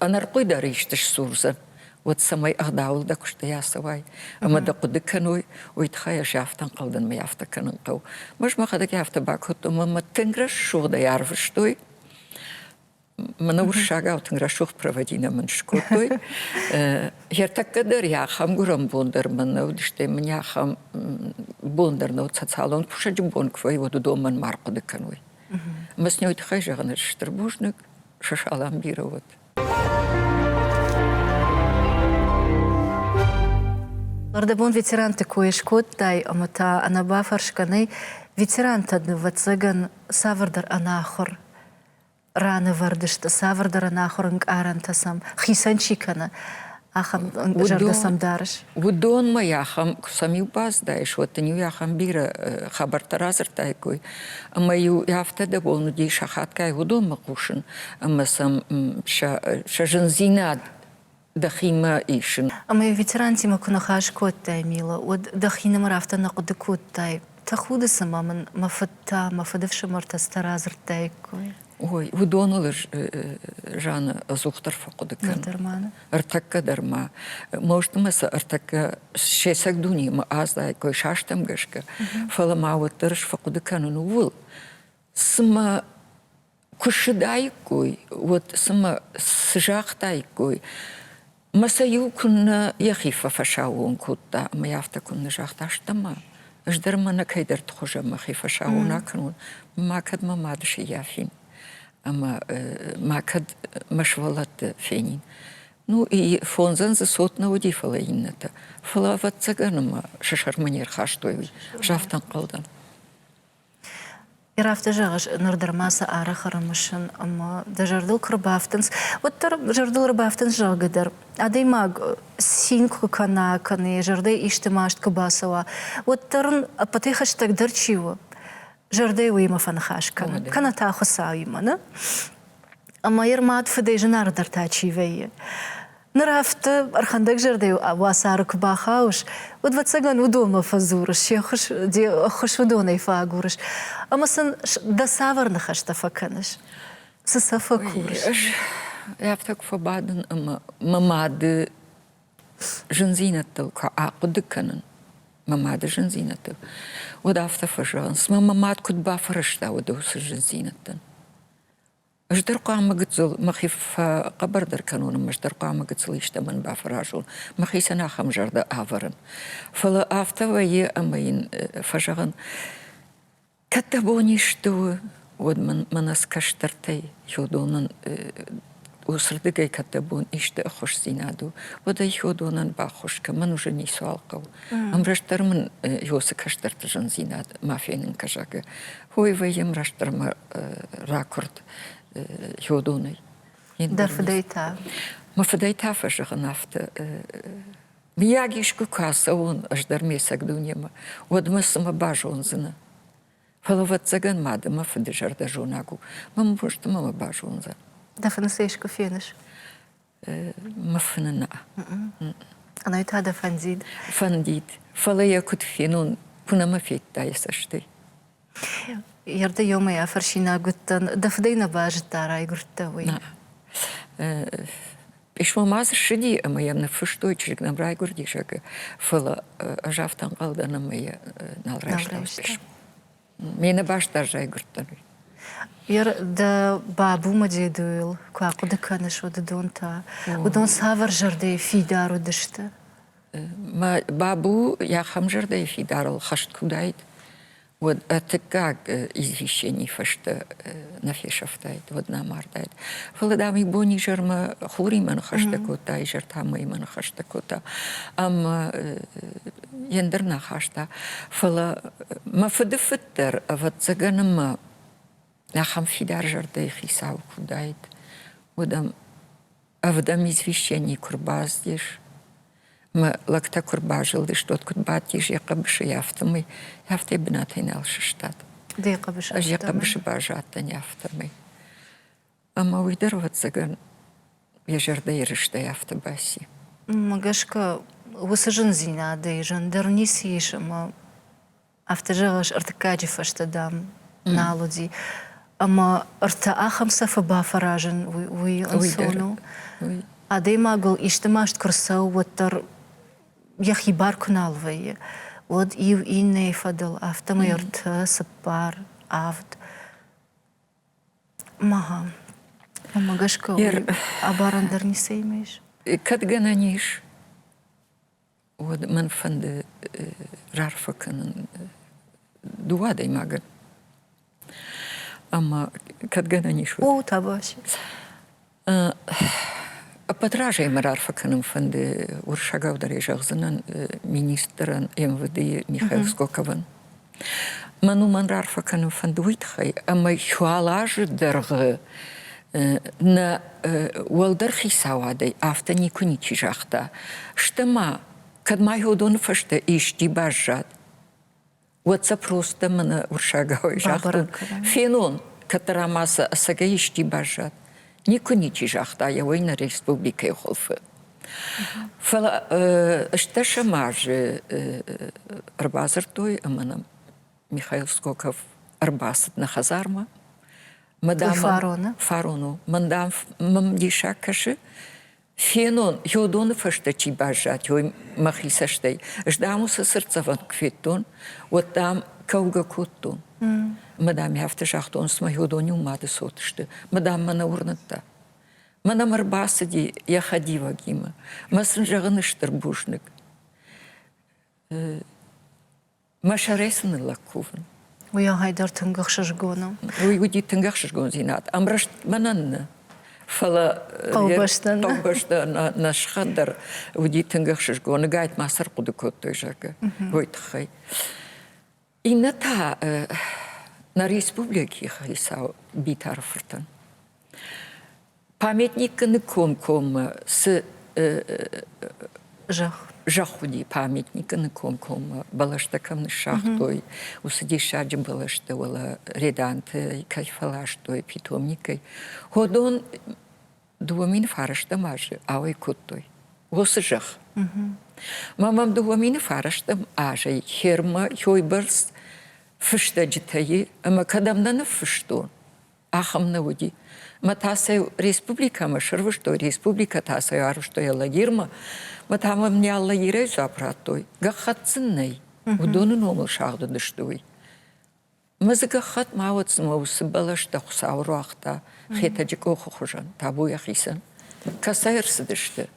Speaker 2: ӕнӕрхъуый дӕр исты сдзурдзӕн, уӕд цӕмӕй ӕгъдауыл дӕ куыстӕй ацӕуай ӕмӕ дӕ хъуыды кӕной, уый тыххӕй ӕз афтӕ ӕнхъӕлдӕн, мӕ афтӕ кӕнын хъӕуы. Ӕз мӕхӕдӕг афтӕ бакодтон, мӕ тынг рӕсугъдӕй арвыстой, мӕнӕ уырыссагау тынг рӕсугъд проводинӕ мын скодтой. Ертӕккӕ дӕр йӕ ахӕм гуырӕн бон дӕр мӕн нӕ уыд, стӕй мын ахӕм бон дӕр нӕ уыд социалон кусӕджы бон куы вӕййы, уӕд уыдон мӕн ма рхъуыды кӕной. Ӕмӕ сын уый тыххӕй зӕгъын, ӕз стыр бузныг, Шашалам бирӕ уӕд.
Speaker 1: Нырдӕбон ветеранты кой скодтай ӕмӕ та ӕнӕ бафӕрсгӕ нӕй, ветерантӕ, нывӕццӕгӕн, цавӕрдӕр ӕнахуыр ранӕвӕрд сты, цавӕрдӕр ӕнахуыр ӕнкъарӕнтӕ сӕм хицӕн чи кӕны, ахӕм зӕрдӕ сӕм дарыс? Уыдонмӕ
Speaker 2: ахӕм куы сӕм-иу баздаис, уӕд дын-иу ахӕм бирӕ хабӕрттӕ радзырдтаиккой. Ӕмӕ-иу афтӕ де бон уыди сахатгай уыдонмӕ хъусын, ӕмӕ сӕм сӕ зындзинад дӕхимӕ исын. Ӕмӕ ветерантимӕ
Speaker 1: куы ныхас кодтай, Мила, уӕд дӕхинымӕр афтӕ нӕ хъуыды кодтай, тӕхуды цымӕ мын мӕ фыд та, мӕ фыдыфсымӕртӕ цытӕ радзырдтаиккой? Ой, уыдоныл
Speaker 2: ӕз Жаны ӕдзухдӕр фӕхъуыды кӕн. Ныр дӕр ма нӕ? Ӕртӕккӕ
Speaker 1: дӕр ма.
Speaker 2: Мостъ ӕмӕ сӕ ӕртӕккӕ се цӕг дунемӕ аздаиккой састӕм гӕсгӕ, фӕлӕ ма уӕддӕр ӕз фӕхъуыды кӕнын ууыл, цымӕ Куы ссыдаиккой, уӕд цымӕ цы загътаиккой? Мӕ сӕ иу куыннӕ йӕхи фӕфӕсаууон кодта ӕмӕ йӕ афтӕ куыннӕ загъта, стӕ-ма, ӕз дӕр мӕнӕ кӕйдӕрты хуызӕн мӕхи фӕсаууон акӕнон, ма кӕд мӕ мады сыййафин ӕмӕ ма кӕд мӕ сывӕллӕтты фенин. Ну и фондзӕн дзы цот нӕ уыди, фӕлӕ иннӕтӕ. Фӕлӕ, ӕвӕццӕгӕн ӕмӕ сӕ сӕрмӕ не рхастой уый, загътӕнхъӕлдӕн. Ир
Speaker 1: афтӕ зӕгъыс, ныр дӕр ма сӕ арӕх ӕрымысын ӕмӕ дӕ зӕрдыл куы ӕрбафтынц, уӕддӕр зӕрдыл ӕрбафтынц, зӕгъгӕ дӕр. Адӕймаг цин куы кӕна, кӕнӕ йӕ зӕрдӕйы исты маст куы бацӕуа, уӕддӕр ын ӕппӕтӕй хӕстӕгдӕр чи у? Зӕрдӕ уыимӕ фӕныхас кӕны, кӕнӕ та Хуыцауимӕ, нӕ? Ӕмӕ йӕ мад-фыдӕй зынаргъдӕр та чи вӕййы? Ныр афтӕ ӕрхӕндӕгзӕрдӕйыл уацары куы бахауыс, уӕд, ӕвӕццӕгӕн, уыдонмӕ фӕдзурыс, се ххуыс, де ххуыс уыдонӕй фӕагурыс. Ӕмӕ сын дӕ цавӕр ныхӕстӕ фӕкӕныс? Цы сӕ фӕкурыс? Ӕз
Speaker 2: афтӕ куы фӕбадын ӕмӕ мӕ мады зындзинӕдтыл куы ахъуыды кӕнын, мӕ мады зындзинӕдтыл, уӕд афтӕ фӕзӕгъынц, мӕ мад куыд бафӕрӕзта уыды уыцы зындзинӕдтӕн. Ыстыр хъуамӕ гыццыл мӕхи фӕхъӕбӕрдӕр кӕнон ӕмӕ ыстыр хъуамӕ гыццыл истӕмӕн бафӕразон, мӕхицӕн ахӕм зӕрдӕ ӕвӕрын. Фӕлӕ афтӕ вӕййы, ӕмӕ йын фӕзӕгъын: кӕд дӕ бон исты у, уӕд мӕнӕ цы кӕстӕртӕй Хёдонӕн уыцырдыгӕй кӕд дӕ бон исты ӕххуысдзинад у, уӕд ӕй Хёдонӕн баххуыс кӕн, мӕн уже ницуал хъӕуы. Ӕмрӕстдӕр мын Ёсы кӕстӕрты зындзинад ма фенын кӕ, зӕгъгӕ. Хойвӕй йӕм растдӕрмӕ ракуырд Хёдонӕй.
Speaker 1: Дӕр фыдӕй та? Мӕ фыдӕй
Speaker 2: та фӕзӕгъын афтӕ. Мыййаг искуы куы ацӕуон ӕз дӕр ме цӕг дунемӕ, уӕд мӕ цымӕ базондзынӕ? Фӕлӕ ӕвӕццӕгӕн ма ды мӕ фыды зӕрдӕзонӕг у, мӕ мборзты мӕ базондзӕн. Дӕ фыны сӕ искуы
Speaker 1: феныс?
Speaker 2: Мыфынына.
Speaker 1: Ӕнӕ та дӕ фӕндид? Фӕндид.
Speaker 2: Фӕлӕ йӕ куыд фенон, куы нӕма федта йӕ цӕстӕй.
Speaker 1: Ерды ёмӕй афӕрсинаг уыдтӕн, дӕ фыдӕй нӕ базыдта, райгуырдтӕ, уый?
Speaker 2: Пъисмо ма дзы ссыди ӕмӕ йӕм ныффыстой, чызг нӕм райгуырди, зӕгъы. Фӕлӕ ӕз афтӕ ӕнхъӕл дӕн, ӕмӕ йӕ нал райста пъисмо. Ме нӕбастдӕр райгуырдтӕн.
Speaker 1: Дӕ бабумӕ дедойыл куы ахъуыды кӕныс уыдон та, уыдон цавӕр зӕрдӕйы фидар уыдысты?
Speaker 2: Мӕ бабу ахӕм зӕрдӕйы фидарыл хӕст куы уыдаид, уӕд тыккаг извещений фӕстӕ нӕ фесӕфтаид, уӕд нӕ мардаид. Фӕлӕ, дам, ибон изӕрмӕ хуримӕ ныхӕстӕ кодта, изӕр та мыймӕ ныхӕстӕ кодта. Ӕмӕ йе ндӕр нӕ хаста. Фӕлӕ мӕ фыдыфыд дӕр, ӕвӕццӕгӕн, ӕмӕ ахӕм фидар зӕрдӕйы хицау куы уыдаид, уӕд ӕм ӕвдӕм извещений куы рбаздис, ӕмӕ лӕгтӕ куы рбазылдысты, уӕд куыд бадтис йӕ хъӕбысыйы, афтӕмӕй, афтӕ йӕ бынатӕй нал сыстад. Де хъӕбысы?
Speaker 1: Ӕз йӕ хъӕбысы базадтӕн,
Speaker 2: афтӕмӕй. Ӕмӕ уый дӕр, ӕвӕццӕгӕн, йӕ зӕрдӕйы рыстӕй афтӕ баци. Мӕ гӕсгӕ,
Speaker 1: уыцы зындзинадӕй зындӕр ницы ис ӕмӕ афтӕ зӕгъыс, ӕртыккаджы фӕстӕ, дам, нал уыди. Ӕмӕ ӕртӕ ахӕм цӕфы бафӕразын, уый ӕнцон у? Адӕймагыл исты маст куы рцӕуы, уӕддӕр йӕхи бар куы нал вӕййы, уӕд иу иннӕйы фӕдыл, афтӕмӕй ӕртӕ, цыппар, авд. Мага. Уымӕ гӕсгӕ абарӕн дӕр ницӕимӕ ис? Кӕд гӕнӕн ис,
Speaker 2: уӕд мӕн фӕнды раарфӕ кӕнын дыууӕ адӕймагӕн. Ӕмӕ кӕд гӕнӕн ис, уӕд. О, табасі. Ӕппӕт разӕй мӕ раарфӕ кӕнын фӕнды уырыссагау дӕр зӕгъдзынӕн министрӕн МВД-йы Михаил Скоковӕн. Мӕн уымӕн раарфӕ кӕнын фӕнды уый тыххӕй, ӕмӕ уал азы дӕргъы нӕ уӕлдӕр хицауадӕй афтӕ никуы ничи загъта. Стӕ ма, кӕд ма Ёдоны фӕстӕ исчи баззад, Уӕдцӕп ростӕ мӕнӕ урсагауӕй загътон. Фенон, кӕддӕр ӕма сӕ ӕцӕгӕй исти баззад. Никуы ничи загъта еуӕй нӕ республикӕй хуылфы. Фӕлӕ ӕстдӕсӕм азы ӕрбадзырдтой ӕмӕ нӕм Михаил Скоков ӕрбацыд нӕ хӕдзармӕ. Мадам фарон у? Фарон у. Мӕн дам мӕм диссаг кӕсы, Фенон, Йодоны фӕстӕ чи баззад, уой мӕхи цӕстӕй. Ӕз, дам, уыцы цыртдзӕвӕн куы федтон, уӕд, дам, кӕугӕ кодтон. Мӕ дам, афтӕ загътон, цыма Йодон-иу мады цот сты. Мӕ дам, мӕ нӕ уырныдта. Мӕ нӕм ӕрбацыди йӕ хӕдивӕгимӕ. Мӕ сын зӕгъын стыр бузныг. Мӕ сӕрӕй цы ныллӕг кувын? Уый ағай дӕр
Speaker 1: тынг ӕхсызгон у. Уый уыди тынг
Speaker 2: ӕхсызгондзинад. Ӕмрӕст мӕнӕн нӕ. Фӕлӕ хъӕубӕстӕ хъӕубӕстӕ нӕ сыхӕн дӕр уыди тынг ӕхсызгон. Ныгӕйт ма сӕр хъуыды кодтой, зӕгъгӕ, уый тыххӕй. Иннӕ та нӕ республикӕйы хицау Битары фыртӕн. Памятникы ныккомкоммӕ цы зӕхх зӕхх уыди памятникы ныкомкоммӕ бӕлӕстӕ кӕм ныссагътой, уыцы диссаджы бӕлӕстӕ, уӕлӕ Реданты кӕй фӕластой, питомникӕй. Ходон дыууӕ мины фарӕстӕм азы ауӕй кодтой уыцы зӕхх. Ма мӕм дыууӕ мины фарӕстӕм азӕй Хермӕ хойбӕрц фыстӕджытӕй ӕмӕ кӕдӕм нӕ ныффыстон, ахӕм нӕ уыди. Мӕ тасӕй республикӕмӕ срвыстой, республикӕ тасӕй арвыстой Алагирмӕ, мӕ та мӕм не Алагирӕй дзуапп радтой, гӕххӕтт сын нӕй, уыдоны номыл сагъдыдысты уый. Мӕ дзы гӕххӕтт ма уӕд цымӕ уыцы бӕлӕстӕ Хуыцау руагъта Хетӕджы къохы хуызӕн, табу йӕхицӕн. Кӕцӕй ӕрцыдысты?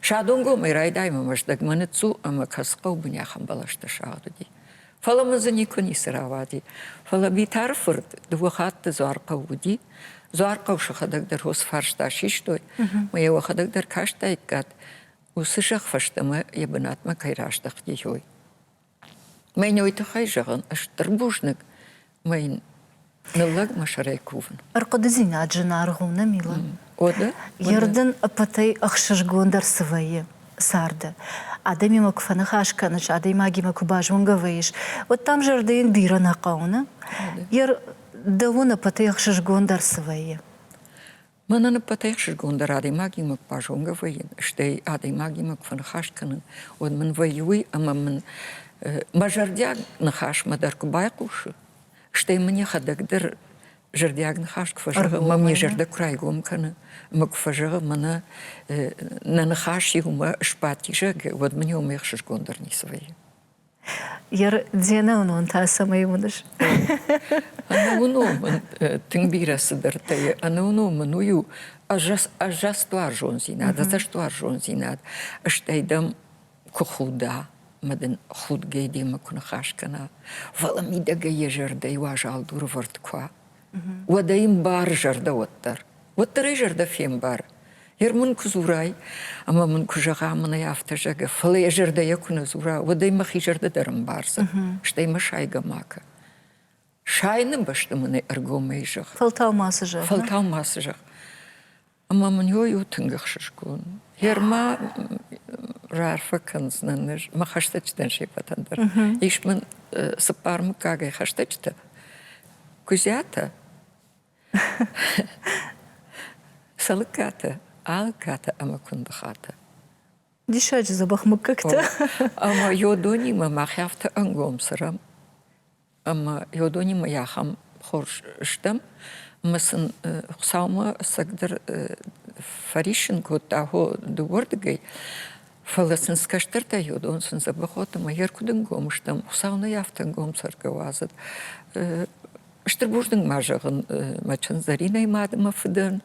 Speaker 2: Садонгомӕй райдаймӕ Мӕздӕгмӕ ныццу ӕмӕ кӕцы хъӕубын ахӕм бӕлӕстӕ сагъд уыди. Фӕлӕ мын дзы никуы ницы рауади. Фӕлӕ Битары фырт дыууӕ хатты Дзуархъӕу уыди. Дзуархъӕу сӕхӕдӕг дӕр хосфарста систой, мӕ йӕ уӕхӕдӕг дӕр кастаиккат, уыцы зӕхх фӕстӕмӕ йӕ бынатмӕ кӕй раздӕхти, хой. Мӕ ной тыххӕй зӕгъын, ыстыр бузныг, мӕн ныллӕг мӕ сӕрӕй кувын. Ӕрхъуыдыдзинад
Speaker 1: зынаргъ у, нӕ, Мила? Уӕдӕ? Йе
Speaker 2: рдын
Speaker 1: ӕппӕтӕй ӕхсызгондӕр цы вӕййы? Царды. Адӕмимӕ куы фӕныхас кӕныс, адӕймагимӕ куы базонгӕ вӕййыс, уӕд дӕм зӕрдӕ йын бирӕ нӕ хъӕуы, нӕ? Йе рдӕуон ӕппӕтӕй ӕхсызгондӕр цы вӕййы? Мӕнӕн
Speaker 2: ӕппӕтӕй ӕхсызгондӕр адӕймагимӕ базонгӕ вӕййын, стӕй адӕймагимӕ куы фӕныхас кӕнын, уӕд мын вӕййы уый, ӕмӕ мын мӕ зӕрдиаг ныхасмӕ дӕр куы байхъусы, стӕй мын йӕхӕдӕг дӕр зӕрдиаг ныхас куы фӕзӕгъы, ӕмӕ ме зӕрдӕ куы райгом кӕны, ӕмӕ куы фӕзӕгъы, мӕнӕ нӕ ныхас иумӕ сбадти, зӕгъгӕ, уӕд мын уымӕй ӕхсызгондӕр ницы вӕййы.
Speaker 1: Йе нӕуынон та цӕмӕй уыныс?
Speaker 2: Ӕнӕуынон тынг бирӕ цыдӕртӕ и. Ӕнӕуынон мын уый у ӕззӕстуарзондзинад, ӕдзӕстуарзондзинад, стӕй дӕм куы худа, ӕмӕ дын худгӕ демӕ куы ныхас кӕна, фӕлӕ мидӕгӕй йӕ зӕрдӕйы уазал дурывӕрд куы уа, уӕдӕ йын бар зӕрдӕ уӕддӕр. Уӕддӕр ӕй зӕрдӕ фембар. Ер мын куы дзурай, ӕмӕ мын куы зӕгъа, мын ӕй афтӕ зӕгӕ, фӕлӕ йӕ зӕрдӕйӕ куы нӕ дзура, уӕд ӕй мӕхи зӕрдӕ дӕр ӕмбардзӕн, стӕй мӕ сайгӕ макӕ. Сайыны бӕсты мын ӕй ӕргомӕй зӕгъ. Фӕлтау мацы зӕгъ.
Speaker 1: Фӕлтау мацы зӕгъ.
Speaker 2: Ӕмӕ мын йой у тынг ӕхсызгон. Герма раарфӕ кӕндзынӕн ӕз мӕ хӕстӕджытӕн сеппӕтӕн дӕр. Ис мын цыппар мыггагӕй хӕстӕджытӕ. Куыдзӕтӕ, сӕлыккатӕ, ӕлыккатӕ ӕмӕ куындыхатӕ. Диссаджы
Speaker 1: дзӕбӕх мыггӕгтӕ. Ӕмӕ
Speaker 2: йодонимӕ мӕхи афтӕ ӕнгом цырам. ӕмӕ уыдонимӕ ахӕм хорз стӕм. Ӕмӕ сын Хуыцаумӕ ӕцӕгдӕр фӕриссын кодта хо дыууӕрдыгӕй. Фӕлӕ сын цы кӕстӕртӕй уыдон, сын Дзӕбӕхот ӕмӕ йӕ ркуыдын гом стӕм. Хуыцау нӕй афтӕ ӕнгом цӕргӕ уадзӕд. Стыр бузныг ма зӕгъын мӕ чындзӕринӕй мад ӕмӕ фыдӕн.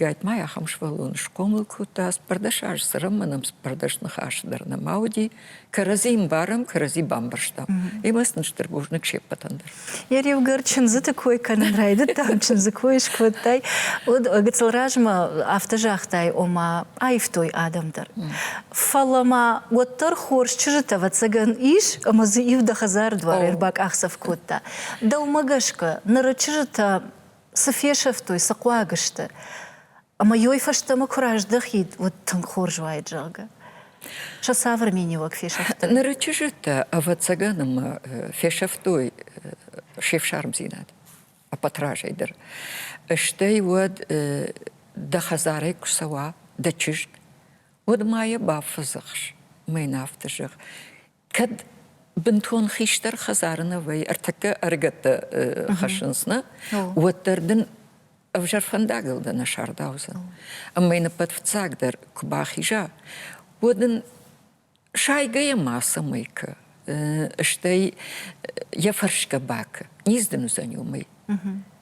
Speaker 2: Гайт ма йӕ ахӕм сывӕллон схъомыл кодта. Цыппӕрдӕс азы цӕрӕм, мӕнӕн цыппӕрдӕс ныхасы дӕр нӕма уыди. кӕрӕдзи ӕмбарӕм, кӕрӕдзи бамбӕрстам. Имӕ сын стыр бузныг се ппӕтӕн дӕр. Йӕ риугӕр
Speaker 1: чындзыты кой кӕнын райдыдтам, чындзы кой скодтай, уыд. Гыццыл размӕ афтӕ загътай, ома аивтой адӕм дӕр. Фӕлӕ ма уӕддӕр хорз чызджыт, ӕвӕццӕгӕн, ис, ӕмӕ дзы иу дӕ хӕдзары дуар ӕрбакъахдзӕф кодта. Дӕумӕ гӕсгӕ, ныры чызджытӕ цы фесӕфтой, цы хъуаг сты? Ӕмӕ йой фӕстӕмӕ куы раздӕхид, уӕд тынг хорз уаид, зӕгъгӕ. Сӕ цавӕр миниуӕг фесӕфтой? Ныры чызджытӕ,
Speaker 2: ӕвӕццӕгӕн, ӕмӕ фесӕфтой се фсармдзинад ӕппӕтразӕй дӕр. Стӕй уӕд дӕ хӕдзарӕй куы цӕуа дӕ чызг, уӕд ма йӕ бафӕдзӕхс, мӕ йын афтӕ зӕгъ, Кӕд бынтон хистӕр хӕдзары нӕ вӕййы, ӕртӕккӕ ӕрыгӕттӕ хӕссынц, нӕ? Уӕддӕр дын ӕвзӕр фӕндагыл дӕ нӕ сардаудзӕн. Ӕмӕ йын ӕппӕт фыццагдӕр куы бахиза, уӕд ын сайгӕйӕ мацӕмӕй кӕ, стӕй йӕ фӕрсгӕ бакӕ, низ дын уыдзӕн уымӕй.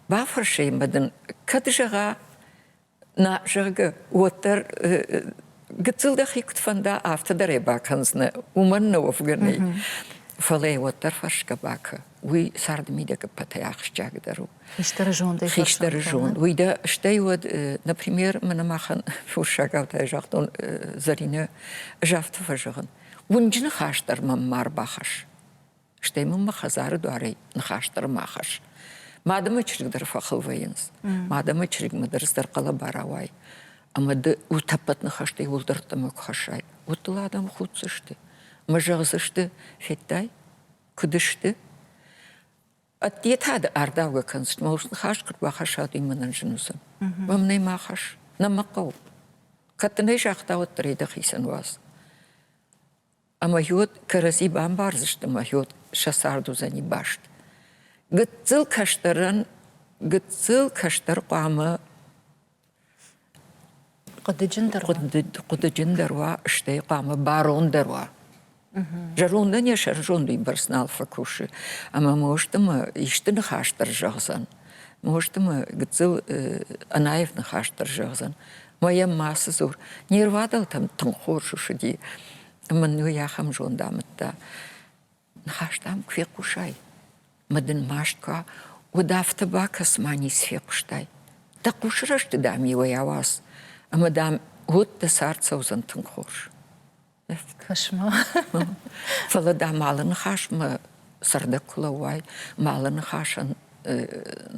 Speaker 2: Бафӕрсы йын мӕ дын, кӕд зӕгъа, Нӕ, зӕгъгӕ, уӕддӕр гыццыл дӕхи куыд фӕнда, афтӕ дӕр ӕй бакӕндзынӕ, уымӕн нӕ уӕвгӕ нӕй. Фӕлӕ ӕй уӕддӕр фӕрсгӕ бакӕ, уый царды мидӕгӕппӕтӕй ахсджиагдӕр у. Хистӕры зондӕй Хистӕры зонд. Уый дӕ, стӕй уӕд, например, мӕнӕ махӕн форсагау загътон Зӕринӕ, ӕз афтӕ фӕзӕгъын, уынджы ныхас дӕр мӕм ма рбахӕсс. Стӕй мын мӕ хӕдзары дуарӕй ныхас дӕр ма хӕсс. Ма дӕ мӕ чызг дӕр фӕхыл вӕййынц. Ма дӕ мӕ чызгмӕ дӕр ӕздӕр хъӕлӕба рауай. Ӕмӕ ды утӕппӕт ныхӕстӕй уӕлдӕрттӕмӕ куы хӕссай, уӕд дыл адӕм худдзысты. Ӕмӕ зӕгъдзысты, федтай, куыд сты? Ӕдде та ды ардаугӕ кӕндзысты, мӕ урс ныхас куыд бахӕссат, уый мӕнӕн зын уыдзӕн. Мӕм нӕ ма хӕсс, нӕ мӕ хъӕуы. Кӕд дын ӕй загъта, уӕддӕр ӕй дӕхицӕн уадз. Ӕмӕхьод кӕрӕдзи бамбардзысты ӕмӕхьод сӕ цард уыдзӕни баст. Гыццыл кӕстӕрӕн гыццыл кӕстӕр хъуамӕ
Speaker 1: хъуыдыджындӕр хъуыды,
Speaker 2: хъуыдыджындӕр уа, стӕй хъуамӕ барондӕр уа. Зӕрондӕн йӕ сӕрызонд уыйбӕрц нал фӕкусы, ӕмӕ ма устымӕ исты ныхас дӕр зӕгъдзӕн. Нозты мӕ гыццыл ӕнаев ныхас дӕр зӕгъдзӕн. Мӕ йӕм мацы дзур. Не рвадӕлтӕм тынг хорз уыди. Мын уый ахӕм зонд амыдта. Ныхас дӕм куы фехъусай, мӕ дын маст куы уӕд афтӕ бакӕс, ма ницы фехъуыстай. Дӕ хъусы рӕзты дам иуӕй ауадз, ӕмӕ дам уӕд дӕ цард цӕудзӕн тынг хорз.
Speaker 1: Кӕс-ма.
Speaker 2: Фӕлӕ дӕ малы ныхасмӕ цӕрдӕг куы лӕууай, малы ныхасӕн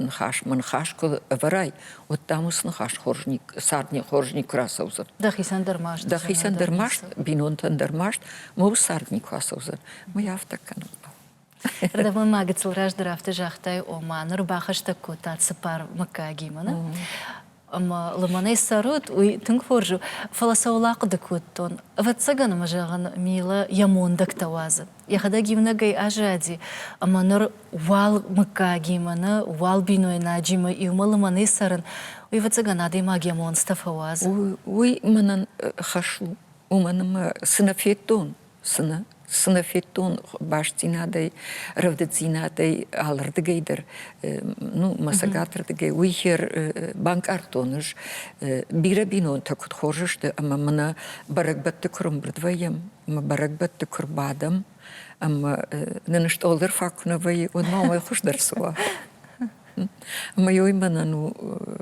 Speaker 2: ныхасмӕ ныхас куы ӕвӕрай, уӕд дӕм уыцы ныхас хорзник, цардник хорзник куы рацӕудзӕн. Дӕхицӕн дӕр маст.
Speaker 1: Дӕхицӕн дӕр маст,
Speaker 2: бинонтӕн дӕр маст, мыл цард никуы ацӕудзӕн. Мы афтӕ кӕнӕм. Ӕрдӕбонмӕ
Speaker 1: гыццыл раздӕр афтӕ загътай, ома ныр бахӕстӕг кодтат цыппар мыггагимӕ, нӕ? ӕмӕ лымӕнӕй цӕрут, уый тынг хорз у, фӕлӕ сӕ уыл ахъуыды кодтон. Ӕвӕццӕгӕн ӕмӕ, зӕгъын, Мила йӕ мондӕгтӕ уадзы. Йӕхӕдӕг иунӕгӕй аззади, ӕмӕ ныр уал мыггагимӕ, нӕ, уал бинойнаджимӕ иумӕ лымӕнӕй цӕрын, уый, ӕвӕццӕгӕн, адӕймаг йӕ монцтӕ фӕуадзы.
Speaker 2: Уый
Speaker 1: мӕнӕн
Speaker 2: хӕс у, уымӕн ӕмӕ цы нӕ федтон, Цыны цынафеттон бастдзинадӕй, рӕвдыддзинадӕй алырдыгӕй дӕр, ну, мӕ цӕгатырдыгӕй, уый хер банкъардтон ӕз. Бирӕ бинонтӕ куыд хорз сты ӕмӕ мӕнӕ бӕрӕгбӕтты куы рымбырд вӕййӕм, мӕ бӕрӕгбӕтты куы рбадӕм ӕмӕ нын стъолдӕр фаг куы нӕ вӕййы, уӕд ма уымӕй хуыздӕр цы уа. Ӕмӕ ой мӕнӕн у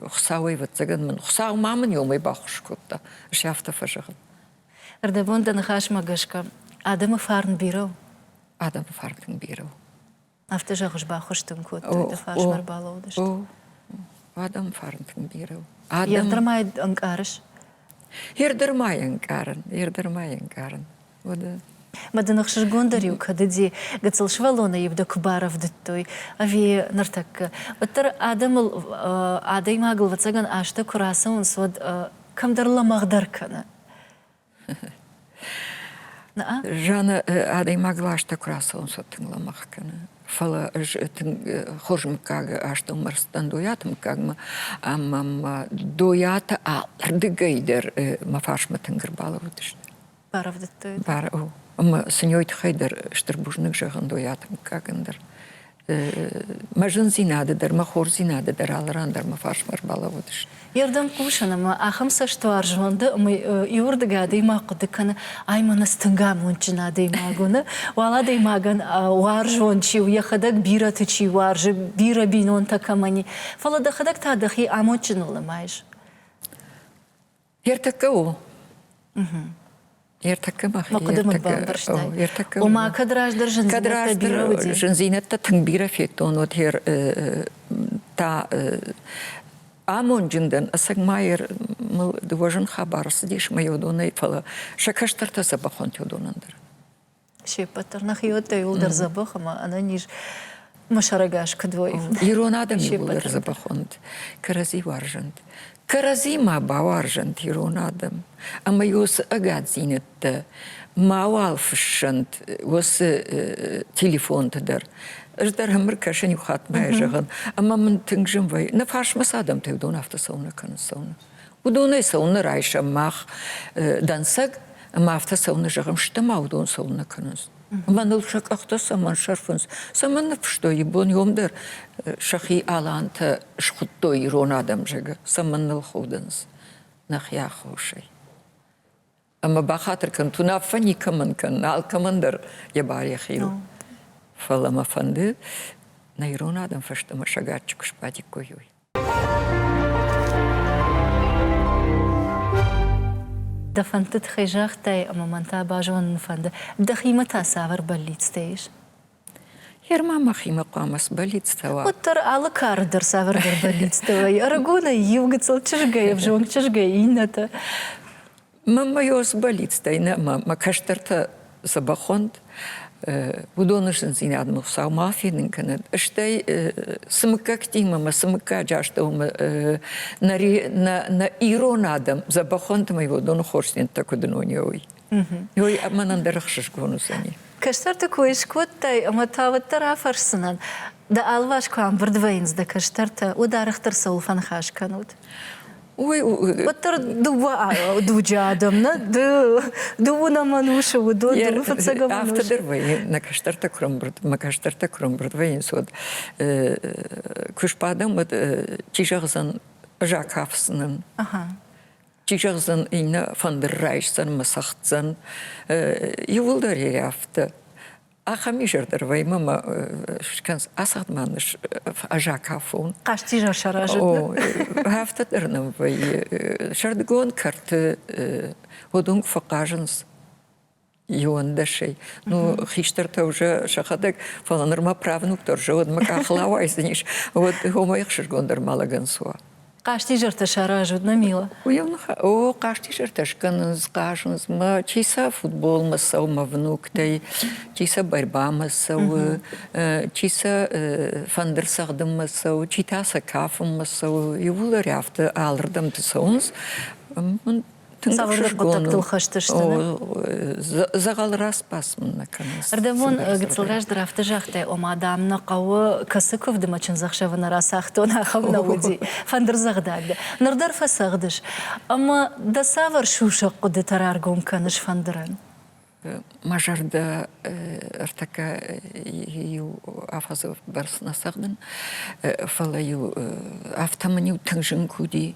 Speaker 2: Хуыцауӕй, ӕвӕццӕгӕн мын Хуыцау ма мын омӕй баххуыс кодта. Ӕз афтӕ фӕзӕгъын. Ӕрдӕбон
Speaker 1: дӕ ныхасмӕ гӕсгӕ адӕмы фарн бирӕ у? Адӕмы фарн
Speaker 2: тынг бирӕ у. Афтӕ зӕгъыс,
Speaker 1: баххуыс дын кодтой, ды фарсмӕ ӕрбалӕууыдысты. О,
Speaker 2: адӕмы фарн тынг бирӕ у. Адӕм... Ердырмӕй
Speaker 1: ӕнкъарыс?
Speaker 2: Ердырмӕй ӕнкъарын, ердырмӕй ӕнкъарын. Уӕдӕ Мӕ дын
Speaker 1: ӕхсызгондӕр-иу кӕд уыди, гыццыл сывӕллоны-иу дӕ куы барӕвдыдтой, ӕви ныртӕккӕ, уӕддӕр адӕмыл, адӕймагыл, ӕвӕццӕгӕн, азтӕ куы рацӕуынц, уӕд кӕмдӕр лӕмӕгъдӕр кӕны.
Speaker 2: Жанна адӕймаг ластӕ куы рацӕуынцӕ тынг лӕмӕгъ кӕны. Фӕлӕ ӕз тынг хорз мыггаг астӕу мӕрдтӕн Дойаты мыггагмӕ, ӕмӕ мӕ Дойаты ардыгӕй дӕр мӕ фарсмӕ тынг ӕрбалӕууыдысты. Баравдыдтой.
Speaker 1: Бар у. Ӕмӕ
Speaker 2: сын йой тыххӕй дӕр стыр бузныг зӕгъын Дойаты мыггагӕн дӕр. Мӕ зындзинады дӕр, мӕ хорздзинады дӕр алы ран дӕр мӕ фарсмӕ ӕрбалӕууыдысты. Йе рдӕм хъусын
Speaker 1: ӕмӕ ахӕм цӕстуар зонды ӕмӕ иуырдыгӕй адӕймаг хъуыды кӕны, ай мӕнӕ цы тынг амондджын адӕймаг уыны, уал адӕймагӕн уарзон чи у, йӕхӕдӕг бирӕты чи уарзы, бирӕ бинонтӕ кӕмӕн и. Фӕлӕ дӕхӕдӕг та дӕхи амондджыныл нымайыс. Ертӕккӕ
Speaker 2: у. Ертӕккӕ мах хъуыды
Speaker 1: мыд бамбӕрстай. Ома кӕд раздӕр зындзинӕдтӕ зындзинӕдтӕ тынг бирӕ
Speaker 2: федтон уӕд хер та амонджын дӕн ӕцӕг майер мыл дыууӕ зын хабар ӕрцыдис мӕ йодонӕй фӕлӕ сӕ кӕстӕртӕ сӕ бӕхонтӕ уыдонӕн дӕр се ппӕт
Speaker 1: дӕр нӕхи уодтой уылдӕр дзӕбӕх ӕмӕ ӕнӕниз мӕ сӕрӕгас куыд уой. Ирон адӕмы
Speaker 2: уылдӕр дзӕбӕхон уыд. Кӕрӕдзи уарзӕнт. Кӕрӕдзимӕ бауарзӕнт ирон адӕм. Ӕмӕ уыцы ӕгаддзинӕдтӕ мауал фыссӕнт уыцы телефонты дӕр. Ӕз дӕр ӕмыр кӕсӕн иу хатт мӕ зӕгъын, ӕмӕ мын тынг зын вӕййы. Нӕ фарсмӕ цы адӕмтӕ уыдон афтӕ цӕуынӕ кӕнынц цӕуынӕ. Уыдонӕй цӕуылнӕ райсӕм мах дӕнцӕг, ӕмӕ афтӕ цӕуылнӕ зӕгъӕм, стӕ ма уыдон цӕуылнӕ кӕнынц? Ӕмӕ ныл сӕ къӕхтӕ цӕмӕн сӕрфынц? Цӕмӕн ныффыстой ибон иом дӕр сӕхи алантӕ схуыдтой ирон адӕм зӕгы? Цӕмӕн ныл худынц нӕхи аххосӕй? Ӕмӕ бахатыр кӕн, уынаффӕ никӕмӕн кӕн, алкӕмӕн дӕр йӕ бар йӕхи у. Фӕлӕ мӕ фӕнды, нӕ ирон адӕм фӕстӕмӕ сӕ гаччы куы сбадиккой, уый.
Speaker 1: Дӕ фӕндты тыххӕй загътай, ӕмӕ мӕн та базонын фӕнды, дӕхимӕ та цавӕр бӕллицтӕ ис?
Speaker 2: Ерма махимӕ хъуамӕ сбӕллицтӕ уа. Уӕддӕр алы кары
Speaker 1: дӕр цавӕрдӕр бӕллицтӕ вӕййы. Ӕрыгонӕй иу гыццыл, чызгӕй ӕвзонг, чызгӕй иннӕтӕ.
Speaker 2: Мӕ йо сбӕллицтӕй нӕ, мӕ кӕстӕртӕ цы бахонд, уыдоны зындзинадмӕ Хуыцау ма фенын кӕнӕд. Стӕй цы мыггӕгтимӕ мӕ цы мыггаджы астӕумӕ нӕ ирон адӕм дзӕбӕхонтӕ мӕй уыдоны хорздзинӕдтӕ куыд ӕнонӕ уой. Ой, мӕнӕн дӕр ӕхсызгон уыдзӕни. Кӕстӕрты кой
Speaker 1: скодтай ӕмӕ та уӕддӕр афӕрсдзынӕн, дӕ алыварс куы ӕмбырд вӕййынц дӕ кӕстӕртӕ, уӕд арӕхдӕр цӕуыл фӕныхас кӕнут? Ой,
Speaker 2: уӕддӕр
Speaker 1: дыууӕ дуджы адӕм нӕ ды, дыууын амӕн усы, уыдон, дыууын фыццаг амӕн усы. Афтӕ дӕр вӕййы, нӕ кӕстӕртӕ
Speaker 2: куырымбырд, мӕ кӕстӕртӕ куырымбырд вӕййынц, уӕд куы сбадӕм, уӕд чи зӕгъдзӕн, ӕз акафдзынӕн. Чи зӕгъдзӕн, иннӕ фӕндыр райсдзӕн, мӕ цӕгъддзӕн. Иууылдӕр ей афтӕ. Ахӕм изӕр дӕр вӕймӕ мӕ скӕнц ацагъдмӕ ныс ажакафон. Хъастизӕр
Speaker 1: саразы.
Speaker 2: Афтӕ дӕр нӕм вӕййы. Сӕрдыгон кӕрты уыдонг фӕхъазынц. иондӕсӕй. Ну, хистӕртӕ уже сӕхӕдӕг, фӕлӕ нырма правнук дӕр же, уӕдмӕ къахыл ауайдзӕнис. Уӕд омӕ ехсызгондӕр ма лӕгӕн суа. Хъастизӕртӕ
Speaker 1: саразут, нӕ мила? О,
Speaker 2: хъастизӕртӕ скӕнынц, хъазынц, мӕ чи сӕ футболмӕ цӕуы, мӕ внуктӕй, чи сӕ борьбамӕ цӕуы, чи сӕ фӕндыр цӕгъдынмӕ цӕуы, чи та сӕ кафынмӕ цӕуы. Иууылдӕр афтӕ алырдӕмты цӕуынц.
Speaker 1: Цавӕр хъуыддӕгтыл хӕстысты?
Speaker 2: Дзӕгъӕл распас мын нӕ кӕнынц. Ӕрдӕбон гыццыл
Speaker 1: раздӕр афтӕ загътай, ома, дам, нӕ хъӕуы кӕцы куывды мӕ чындзӕхсӕвы нӕ рацагътон, ахӕм нӕ уыди. Фӕндырдзӕгъдӕг дӕ. Ныр дӕр фӕцӕгъдыс. Ӕмӕ дӕ цавӕр сусӕг хъуыдытӕ раргом кӕныс фӕндырӕн? Мӕ зӕрдӕ
Speaker 2: ӕртӕккӕ иу афӕдзы бӕрц нӕ цӕгъдын, фӕлӕ-иу афтӕ мын-иу тынг зын куы уыди,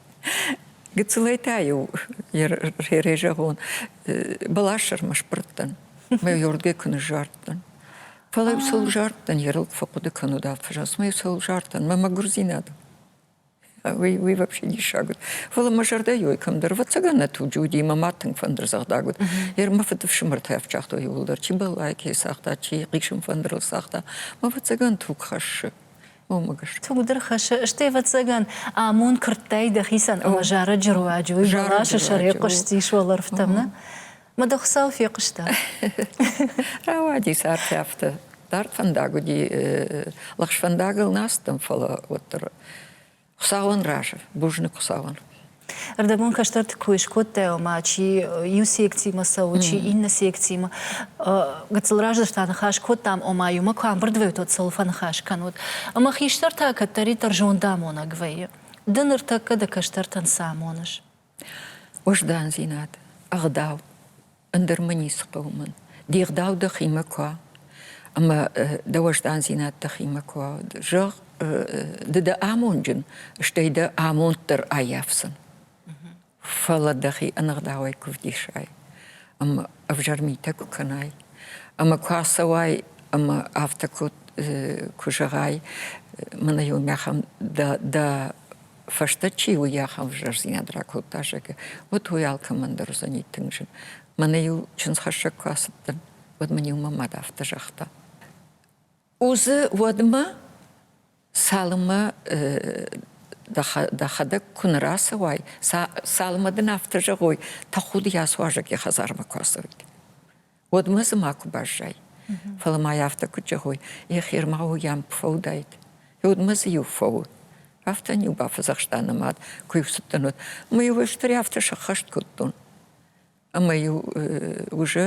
Speaker 2: Гыццылӕй та-иу йӕ зӕгъон, бӕлассӕрмӕ сбырдтӕн, мӕ йордгӕ куы ныззардтӕн. Фӕлӕ иу сыл зардтӕн, йе рылд фӕхъуыды кӕнод афӕзаст, мӕ иу сыл зардтӕн, мӕ мӕгуырдзинад. Уый, уый вообще диссаг уыд. Фӕлӕ мӕ зӕрдӕйы ой кӕмдӕр, ӕвӕццӕгӕн, нӕ туджы уыди, мӕ мад тынг фӕндырдзагъдаг уыд. Йӕ мӕ фыдыфсымӕртӕ ӕфсагътой иууылдӕр, чи бӕллайы кӕй цагъта, чи хъисын фӕндырыл цагъта. Мӕ ӕвӕццӕгӕн туг хӕссы. Омыгыс. Тыгъдыр хӕссы,
Speaker 1: стӕй, ӕвӕццӕгӕн, амонд куырдтай дӕхицӕн ӕмӕ зарӕджы руаджы уый бӕласы сӕр йӕхъуыстис уӕлӕрвтӕм, нӕ? Мӕ дӕ Хуыцау фехъуыста.
Speaker 2: Рауадис арф афтӕ. Дард фӕндаг уыди. Лӕгъз фӕндагыл нӕ ацыдтӕн, фӕлӕ уӕддӕр Хуыцауӕн разы, бузныг Хуыцауӕн. Ӕрдӕбон
Speaker 1: кӕстӕрты кой скодтай, ома чи иу секцимӕ цӕуы, чи иннӕ секцимӕ. Гыццыл раздӕр та ныхас кодтам, ома иумӕ куы амбырд вӕййут, уӕд цӕуыл фӕныхас кӕнут. Ӕмӕ хистӕртӕ кӕддӕриддӕр зондамонӕг вӕййы. Ды ныртӕккӕ дӕ кӕстӕртӕн цы амоныс?
Speaker 2: Уыздандзинад, ӕгъдау, ӕндӕр мӕ ницы хъӕуы мӕн. Де гъдау дӕхимӕ куы уа ӕмӕ дӕ уӕздандзинад дӕхимӕ куы уа, зӕгъ, ды дӕ амонджын, стӕй дӕ амонд дӕр аййафдзӕн. Фӕлӕ дӕхи ӕнӕгъдауӕй куы вдисай ӕмӕ ӕвзӕр митӕ куы кӕнай ӕмӕ куы ацӕуай ӕмӕ афтӕ куы, куы зӕгъай, мӕнӕ иу мӕхӕм дӕ, дӕ фӕстӕ чи уый ахӕм ӕвзӕрдзинад ракодта, зӕгъы, уӕд уый алкӕмӕн дӕр уыдзӕни тынг зын. Мӕнӕ-иу чындзхӕссӕг куы ацыдтӕн, уӕд мын-иу мӕ мад афтӕ загъта. Узы уӕдмӕ, цалынмӕ дӕхӕдӕг куы нӕ рацӕуай, цалынмӕ дын афтӕ зӕгъой, тӕхуд йӕ суазӕг йӕ хӕдзармӕ куы ацӕуид. уӕдмӕ дзы макуы баззай. Фӕлӕ ма йӕ афтӕ куыд зӕгъой, йӕхи ӕрмӕгъуы йӕм фӕуыдаид. Гьуыдмӕ дзы-иу фӕуы. Афтӕ-иу бафӕдзӕхста нӕ мад, куы-иу цыдтӕн уӕд, ӕмӕ-иу стырӕй афтӕ сӕххӕст кодтон. Ӕмӕ-иу уже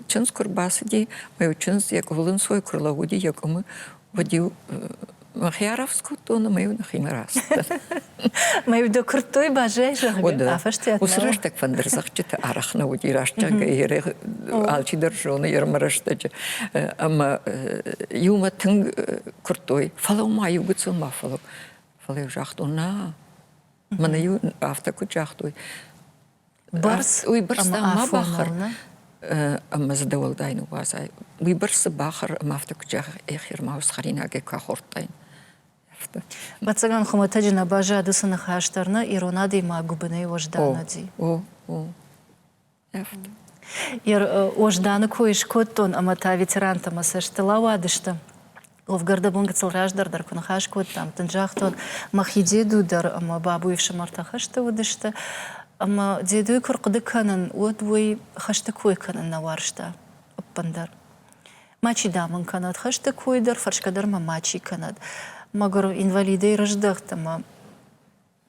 Speaker 2: чындз куы рбацыди, мӕ чындз йӕ къуылынцой куы рлӕууыди йӕ къуымы, уӕд-иу Мӕхи арафс кодтон ӕмӕ-иу нӕхимӕ рацыдтӕн.
Speaker 1: Мӕ уды куырдтой базӕй, зӕгъгӕ, афӕстиат Уыцы рӕстӕг фӕндырдзӕгъдджыты
Speaker 2: арӕх нӕ уыди, раст зӕгъгӕ, алчидӕр зоны ермӕ рӕстӕджы. Ӕмӕ иумӕ тынг куырдтой, фӕлӕу ма иугуыцон ма фӕлӕу. Фӕлӕ-иу загътон, нӕ, мӕнӕ-иу афтӕ куыд загътой,
Speaker 1: Барц уый бӕрц ма
Speaker 2: бахӕр ӕмӕ дзы дӕуӕлдай ныууадзай. Уый бӕрцы бахӕр ӕмӕ афтӕ куыд зӕгъ ехермаус хӕринагӕй куы ахордтай.
Speaker 1: Ӕвӕццӕгӕн хуымӕтӕджы нӕ баззады цы ныхас дӕр нӕ ирон адӕймаг гуыбынӕй уӕзданы. О, о. Йе Уӕзданы кой скодтон ӕмӕ та ветерантӕ мӕ цӕстыл ауадысты. Ловгӕрдӕбон гыццыл раздӕр дӕр куы ныхас кодтам, тынг загътон, мӕхи деду дӕр ӕмӕ бабуйы ӕфсымӕртӕ хӕсты уыдысты. Ӕмӕ дедойы куы рхъуыды кӕнын, уӕд уый хӕсты кой кӕнын нӕ уарзта ӕппындӕр. Мачи, дам ын кӕнӕд хӕсты кой дӕр, фӕрсгӕ дӕр мӕ мачи кӕнӕд. Мӕгуыр инвалидӕй рыздӕхт ӕмӕ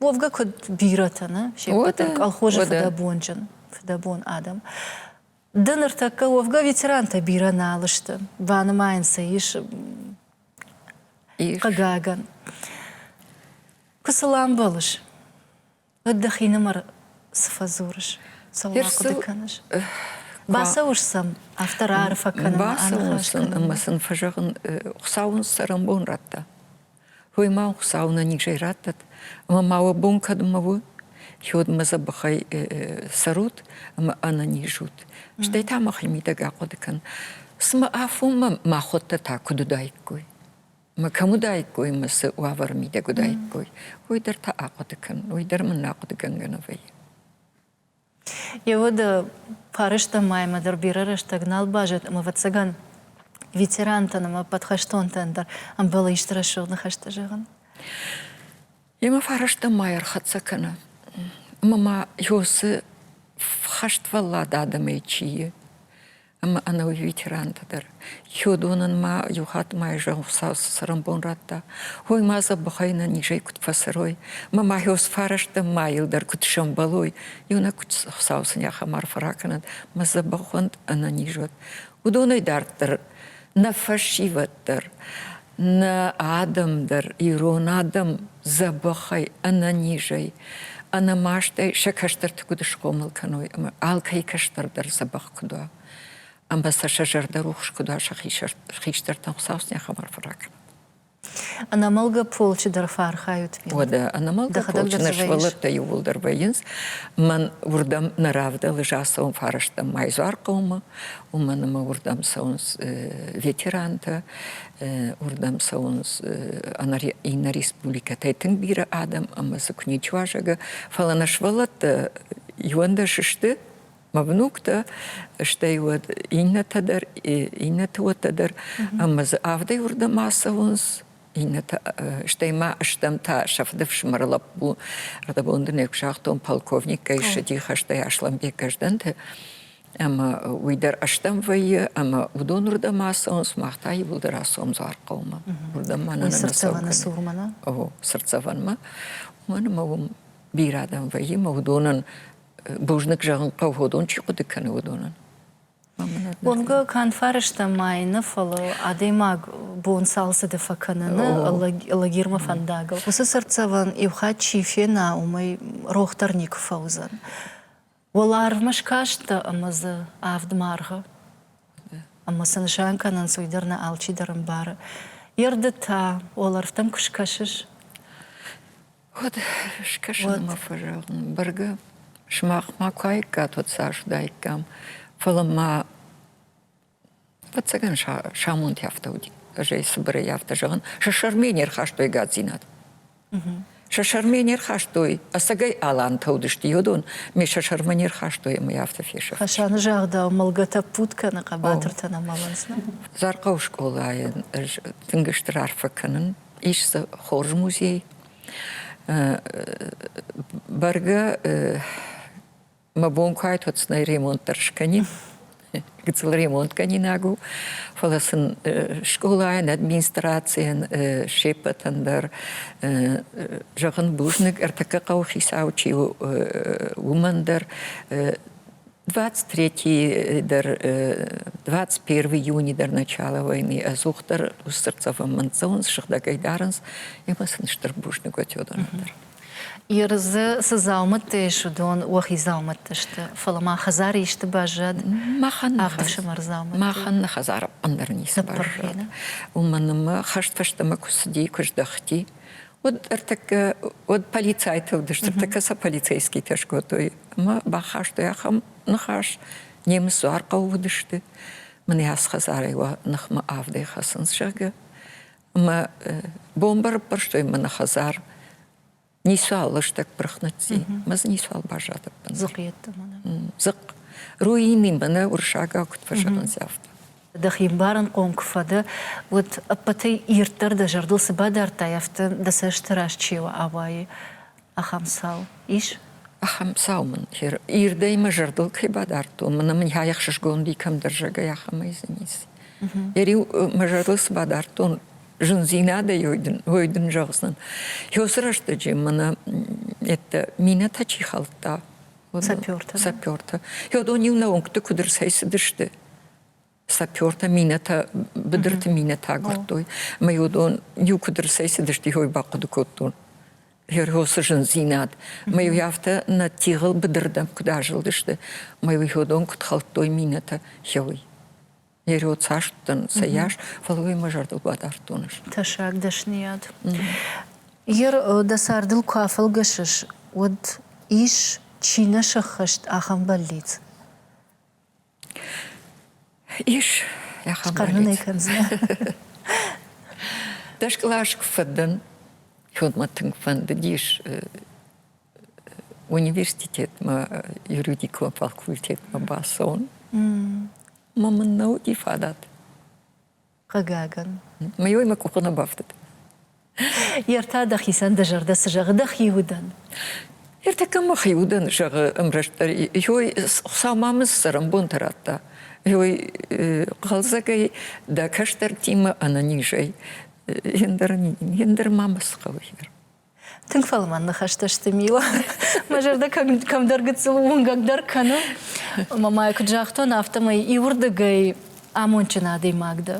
Speaker 1: уӕвгӕ куыд бирӕтӕ, нӕ? Се ппӕт дӕр колхозы фыдӕбонджын, фыдӕбон адӕм. Ды ныртӕккӕ уӕвгӕ ветерантӕ бирӕ нал сты, банымайын сӕ ис хъыгагӕн. Куы сыл амбӕлыс, уӕд дӕхинымӕр цы фӕдзурыс? Цӕуыл ахъуыды кӕныс? Бацӕуыс сӕм афтӕ раарфӕ кӕнынмӕ, аныхас кӕнынмӕ. Ӕмӕ
Speaker 2: сын фӕзӕгъын, Хуыцау уын цӕрӕнбон радта. Уой ма Хуцау нӕ низӕй раттӕд, ӕма ма уӕ бон кӕдмӕ уо, уӕдмӕ дзӕбӕхӕй цӕрут ӕма ӕнӕнизут. Стӕй та мӕхе мидӕг ахъуӕды кӕн. Цымӕ афонмӕ мӕхуӕдтӕ та куыд уыдаиккой? Мӕ кӕм уыдаиккой, мӕ цы уавӕры мидӕг уыдаиккой, уый дӕр та ахъуыды кӕн, уый дӕр мын ахъуыдыгӕнгӕ нӕ вӕййы. Йе
Speaker 1: уӕды парызтӕн ма йӕмӕ дӕр бирӕ рӕстӕг нал баззад, ӕмӕ, ӕвӕццӕгӕн, ветерантӕн ӕмӕ подхӕстонтӕн дӕр ӕмбӕлы исты рӕсугъд ныхӕстӕ зӕгъын.
Speaker 2: Йемӕ фарӕстӕн ма ӕрхӕццӕ кӕны, ӕмӕ ма Иосы хӕствӕллад адӕмӕй чи и, ӕмӕ ӕнӕуи ветерантӕ дӕр. Хиуыдонӕн ма иу хатт мӕйы зӕгъ цӕрӕнбон радта. Ой, ма забыхай нӕ низӕй куыд фӕцӕрой, мӕ мӕйыл сфӕрӕзтӕ мӕйыл дӕр куыд сӕмбӕлой, иунӕг куыд хсау сын йӕ хӕмар фӕракӕнӕд, мӕ дзӕбӕхонд ӕнӕниз уӕд. Уыдонӕй дарддӕр нӕ фӕсивӕд дӕр, нӕ адӕм дӕр, ирон адӕм дзӕбӕхӕй, ӕнӕнизӕй, ӕнӕмастӕй сӕ кӕстӕрты куыд схъомыл кӕной ӕмӕ алкӕй кӕстӕр дӕр дзӕбӕх куыд уа, ӕмӕ сӕ сӕ зӕрдӕрухс куыд уа сӕ хистӕртӕн Хуыцау сын йӕ хабар фӕракӕнӕд.
Speaker 1: Ӕнӕмӕлгӕ полчы дӕр фӕархайут. Уӕдӕ ӕнӕмӕлгӕ
Speaker 2: полчы нӕ сывӕллӕттӕ иууылдӕр вӕййынц. Мӕн уырдӕм нӕ равдӕлы зацӕуын фӕрӕзтам Майзуар хъӕумӕ, уымӕн ӕмӕ уырдӕм цӕуынц ветерантӕ, уырдӕм цӕуынц иннӕ республикӕтӕй тынг бирӕ адӕм ӕмӕ дзы куы ничи уазӕг, фӕлӕ нӕ сывӕллӕттӕ иуӕндӕс сты, мӕ внуктӕ, стӕй уӕд иннӕтӕ дӕр, иннӕты уӕттӕ дӕр, ӕмӕ дзы авдӕй уырдӕм ацӕуынц, иннӕтӕ, стӕй ма стӕм та сӕфты фсымӕр лӕппу, ӕрдӕбон дунейы куысагътон полковник кӕй ссыди хӕстӕй Аслӕнбег Гӕздӕнты, ӕмӕ уый дӕр ӕстӕм вӕййы, ӕмӕ уыдон уырдӕм ацӕуынц, мах та иууылдӕр ацӕуӕм Дзуархъӕумӕ. Уырдӕм мӕнӕ сырдцӕвӕны цурмӕ, нӕ?
Speaker 1: О,
Speaker 2: сырдцӕвӕнмӕ. Уымӕн ӕмӕ уым бирӕ адӕм вӕййы, ӕмӕ уыдонӕн Бузныг зӕгъын хъӕуы, уыдон чи хъуыды кӕны, уыдонӕн.
Speaker 1: Уымгӕ канд фӕрӕзтӕм ӕй нӕ, фӕлӕ адӕймаг бон цалцӕджы фӕкӕныны лагермӕ фӕндагыл уыцы цыртдзӕвӕн иу хатт чи фена, уымӕй рохдӕр никуы фӕуыдзӕн. Уӕларвмӕ скастӕ ӕмӕ дзы авд маргъы. Ӕмӕ цы нысан кӕнынц, уый дӕр нӕ алчидӕр ӕмбары. Йе рды та уӕлӕрвтӕм куы скӕсыс,
Speaker 2: Уӕд скӕсынмӕ фӕзӕгъын, бӕргӕ сымах ма куаиккат уӕд сарзыдаиккам, фӕлӕ ма ӕцӕгӕн самонти афтӕ уыди. Ӕз ӕй цыбырӕй афтӕ зӕгъын, сӕ сӕрмӕ не рхастой гадзинад. Сӕ сӕрмӕ не рхастой, ӕцӕгӕй алантӕ уыдысты йодон, ме сӕ сӕрмӕ не рхастой ӕмӕ йӕ афтӕ фесӕфт. Хасаны загъдау,
Speaker 1: мылгӕтӕ ппут кӕны, хъӕбатыртӕ нӕ мӕлынц. Зархъӕуы
Speaker 2: скъолайӕн ӕз тынг стыр арфӕ кӕнын, ис дзы хорз музей. Бӕргӕ мӕ бон куы айтод цынӕй ремонт дӕр скӕнин, гыццыл ремонткӕнинаг у, фӕлӕ сын скъолайӕн, администрацийӕн се ппӕтӕн дӕр зӕгъын бузныг, ӕртӕккӕ хъӕуы хицау чи у, уымӕн дӕр 23 дӕр 21 июни дӕр начало войны ӕдзухдӕр усцырцӕвӕмӕн цӕуынц, сыгъдӕгӕй дарынц, ӕмӕ сын стыр бузныг отёдоны дӕр. Иры дзы
Speaker 1: цы дзаумӕттӕ ис, уыдон уӕхи дзаумӕттӕ сты, фӕлӕ ма хӕдзары исты баззад? Махӕн ӕфсымӕр дзаумӕттӕ.
Speaker 2: Махӕн хӕдзар ӕндӕр ницы баззад. Уымӕн ӕмӕ хӕст фӕстӕмӕ куы цыди, куы здӕхти, Уыд ӕртыккӕ, уыд полицайты уыдысты, ӕртыккӕ сӕ полицейскитӕ скодтой ӕмӕ бахастой ахӕм ныхас. Немыц дзуар хъӕуы уыдысты, мын ацы хӕдзарӕй уӕ ныхмӕ авдӕй хӕцынц, зӕгъгӕ. Ӕмӕ бомбӕ рыппӕрстой мӕ нӕ хӕдзар. Ницуал лыстӕг пырх ныцци, мӕ дзы ницуал баззад ӕппындӕр. Дзыхъ йеддӕмӕ
Speaker 1: нӕ? Дзыхъ.
Speaker 2: Руины мӕ нӕ уырыссагау куыд фӕзӕгъынц, афтӕ. дӕхи ӕмбарынхъом
Speaker 1: куы фӕдӕ, уӕд ӕппӕтӕй ирддӕр дӕ зӕрдыл цы бадардтай, афтӕ дӕ цӕсты раз чи ауайы, ахӕм цау ис? Ахӕм цау мын
Speaker 2: ирдӕй мӕ зӕрдыл кӕй бадардтон, мӕнӕ мын йӕ ӕхсызгон уыди кӕмдӕрзӕгӕй ахӕмӕй низ. Йӕ риу мӕ зӕрдыл цы бадардтон, зындзинадӕй ой дын, ой дын зӕгъдзӕн. Ёсы рӕстӕджы мӕнӕ йеддӕ минӕтӕ чи хӕлдта, Сапёртӕ.
Speaker 1: Сапёртӕ.
Speaker 2: Хёдон иу нӕуынгты куыд ӕрцӕйцыдысты? Сапёртӕ минӕтӕ, быдырты минӕтӕ агуырдтой. Ӕмӕ Йодон иу куыд ӕрцӕйцыдысты, йой бахъуыды кодтон. Герёсы зындзинад. Мӕ-иу афтӕ нӕ тигъыл быдырдӕм куыд азылдысты, мӕ-иу Хёдон куыд хӕлдтой минӕтӕ, хёй. Йӕ род састдӕн сӕ йас, фӕлӕ уый мӕ зӕрдыл бадардтон ис. Тӕссаг дӕсныйад.
Speaker 1: Ир, дӕ цардыл куы афӕлгӕсыс, уӕд ис чи нӕ сӕххӕст ахӕм бӕллиц?
Speaker 2: Ис ахӕм хъӕрнын ӕй кӕндзынӕ. Дӕ скълаз куы фӕдӕн, уӕд мӕ тынг фӕндыдис университетмӕ, юридикон факультетмӕ бацӕуын. Ма мын нӕ уыди фадат.
Speaker 1: Хъыгагӕн. Мӕ
Speaker 2: мӕ къухы нӕ бафтыд.
Speaker 1: Йе ртӕ дӕхицӕн дӕ
Speaker 2: зӕрдӕ
Speaker 1: цы зӕгъы дӕхи удӕн? Ертӕккӕ
Speaker 2: мӕхи удӕн зӕгъы ӕмрӕстдӕр. Йой, Хуыцаумӕ цӕрӕнбонтӕ радта. Йой, хъӕлдзӕгӕй дӕ кӕстӕртимӕ ӕнӕнизӕй. Ендӕр, ендӕр ма цы хъӕуы, Игорь? Тынг фӕлмӕн
Speaker 1: ныхӕстӕ сты Мила. Мӕ зӕрдӕ кӕмдӕр гыццыл уынгӕгдӕр кӕны. Мамайы куыд загътон, афтӕмӕй иуырдыгӕй амондджын адӕймаг дӕ.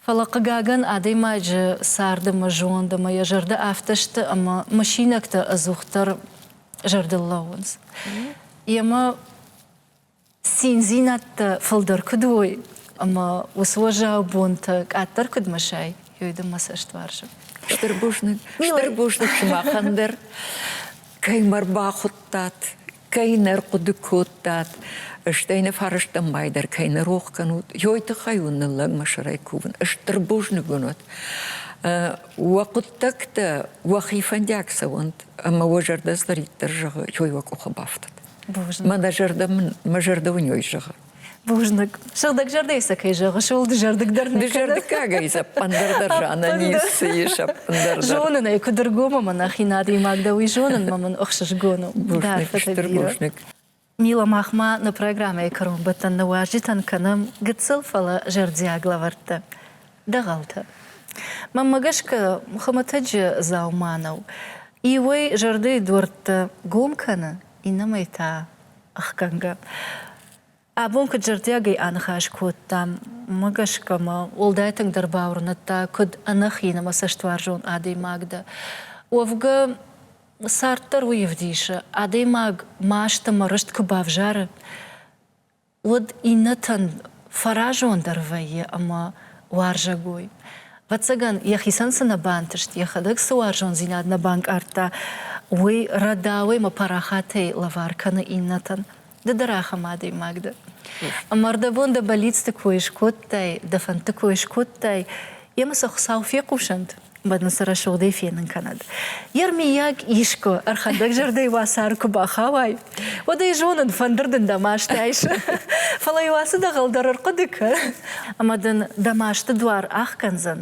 Speaker 1: Фӕлӕ, хъыгагӕн, адӕймаджы царды мӕ зонд ӕмӕ йӕ зӕрдӕ афтӕ сты, ӕмӕ мысинӕгтӕ ӕдзухдӕр зӕрдыл лӕууынц. Йемӕ циндзинӕдтӕ фылдӕр куыд уой ӕмӕ уыцы уӕззау бонтӕ къаддӕр куыд мысай, ёй дын мӕ цӕст вӕрсы. Стыр бузныг,
Speaker 2: стыр бузныг сымахӕн дӕр, кӕй мӕ рбахуыдтат, кӕй нӕ рхъуыды кодтат, стӕй нӕ фӕрӕзтӕн май дӕр кӕй нӕ рох кӕнут, ёй тыххӕй уын ныллӕг мӕ сӕрӕй кувын, стыр бузныг уын уӕд. Уӕ хъуыддӕгтӕ уӕхи фӕндиаг цӕуӕнт, ӕмӕ уӕ зӕрдӕ цыдӕриддӕр зӕгъы, ёй уӕ къухы бафтӕд. Бузныг. Мӕ зӕрдӕ мӕ зӕрдӕ уынёй зӕгъы. Бузныг.
Speaker 1: Сыгъдӕг зӕрдӕйы сӕ кӕй зӕгъы, сыл дызӕрдыгдӕр нӕ Дызӕрдыггагӕй
Speaker 2: сӕппындӕр дӕр зӕгъынӕн ницы ис сӕппындӕр дӕр. Зонын ӕй, куыд ӕргом
Speaker 1: ӕмӕ нӕхи надгоймаг дӕ, уый зонын мӕ мын ӕхсызгон у. Бузныг, стыр
Speaker 2: бузныг. Мила, мах
Speaker 1: ма нӕ программӕйы кӕронбӕттӕн нӕ уазджытӕн кӕнӕм гыццыл, фӕлӕ зӕрдиаг лӕвӕрттӕ. Дӕгъӕлтӕ. Мӕммӕ гӕсгӕ хуымӕтӕджы дзаума нӕу. Иуӕй зӕрдӕйы дуӕрттӕ гом кӕны, иннӕмӕй та ӕхгӕнгӕ. Абон куыд зӕрдиагӕй аныхас кодтам, мӕ гӕсгӕ мӕ уӕлдай тынгдӕр бауырныдта, куыд ӕнӕхин ӕмӕ цӕстуарзон адӕймаг дӕ. Уӕвгӕ, цард дӕр уый ӕвдисы, адӕймаг маст ӕмӕ рыст куы бавзары, уыд иннӕтӕн фӕразондӕр вӕййы ӕмӕ уарзӕгой. Ӕвӕццӕгӕн, йӕхицӕн цы нӕ бантыст, йӕхӕдӕг цы уарзондзинад нӕ банкъардта, уый рӕдауӕй ӕмӕ парахатӕй лӕвар кӕны иннӕтӕн. Ды дӕр ахӕм адӕймаг дӕ. Ӕмӕ ӕрдӕбон дӕ бӕллицты кой скодтай, дӕ фӕндты кой скодтай, емӕ сӕ Хуыцау фехъусӕнт. уӕд ын сӕ рӕсугъдӕй фенын кӕнӕд. Йе рмийаг искуы ӕрхӕндӕг зӕрдӕйы уацары куы бахауай, уӕд ӕй зонын, фӕндыр дын дӕ маст айсы. Фӕлӕ-иу ацы дӕгъӕл дӕр ӕрхъуыды кӕ, ӕмӕ дын дӕ масты дуар ахгӕндзӕн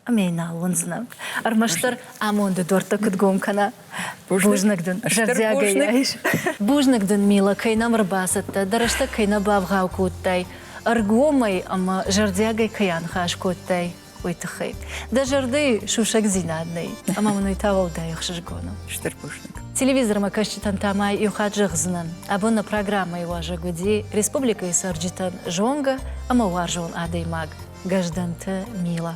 Speaker 1: ӕмӕ йын нал уындзынӕ. Ӕрмӕстдӕр амонды дуӕрттӕ куыд гом кӕна. Бузныг дын, зӕрдиагӕй айс. Бузныг дын, Мила, кӕй нӕм ӕрбацыдтӕ, дӕ рӕстӕг кӕй нӕ бавгъау кодтай ӕргомӕй ӕмӕ зӕрдиагӕй кӕй аныхас кодтай, уый тыххӕй. Дӕ зӕрдӕйы сусӕгдзинад нӕй, ӕмӕ мын уый та уӕлдай ӕхсызгон у. Стыр бузныг.
Speaker 2: Телевизормӕ
Speaker 1: кӕсджытӕн та ма иу хатт зӕгъдзынӕн, абон нӕ программӕйы уазӕг уыди республикӕйы цӕрджытӕн зонгӕ ӕмӕ уарзон адӕймаг Гӕздӕнты Мила.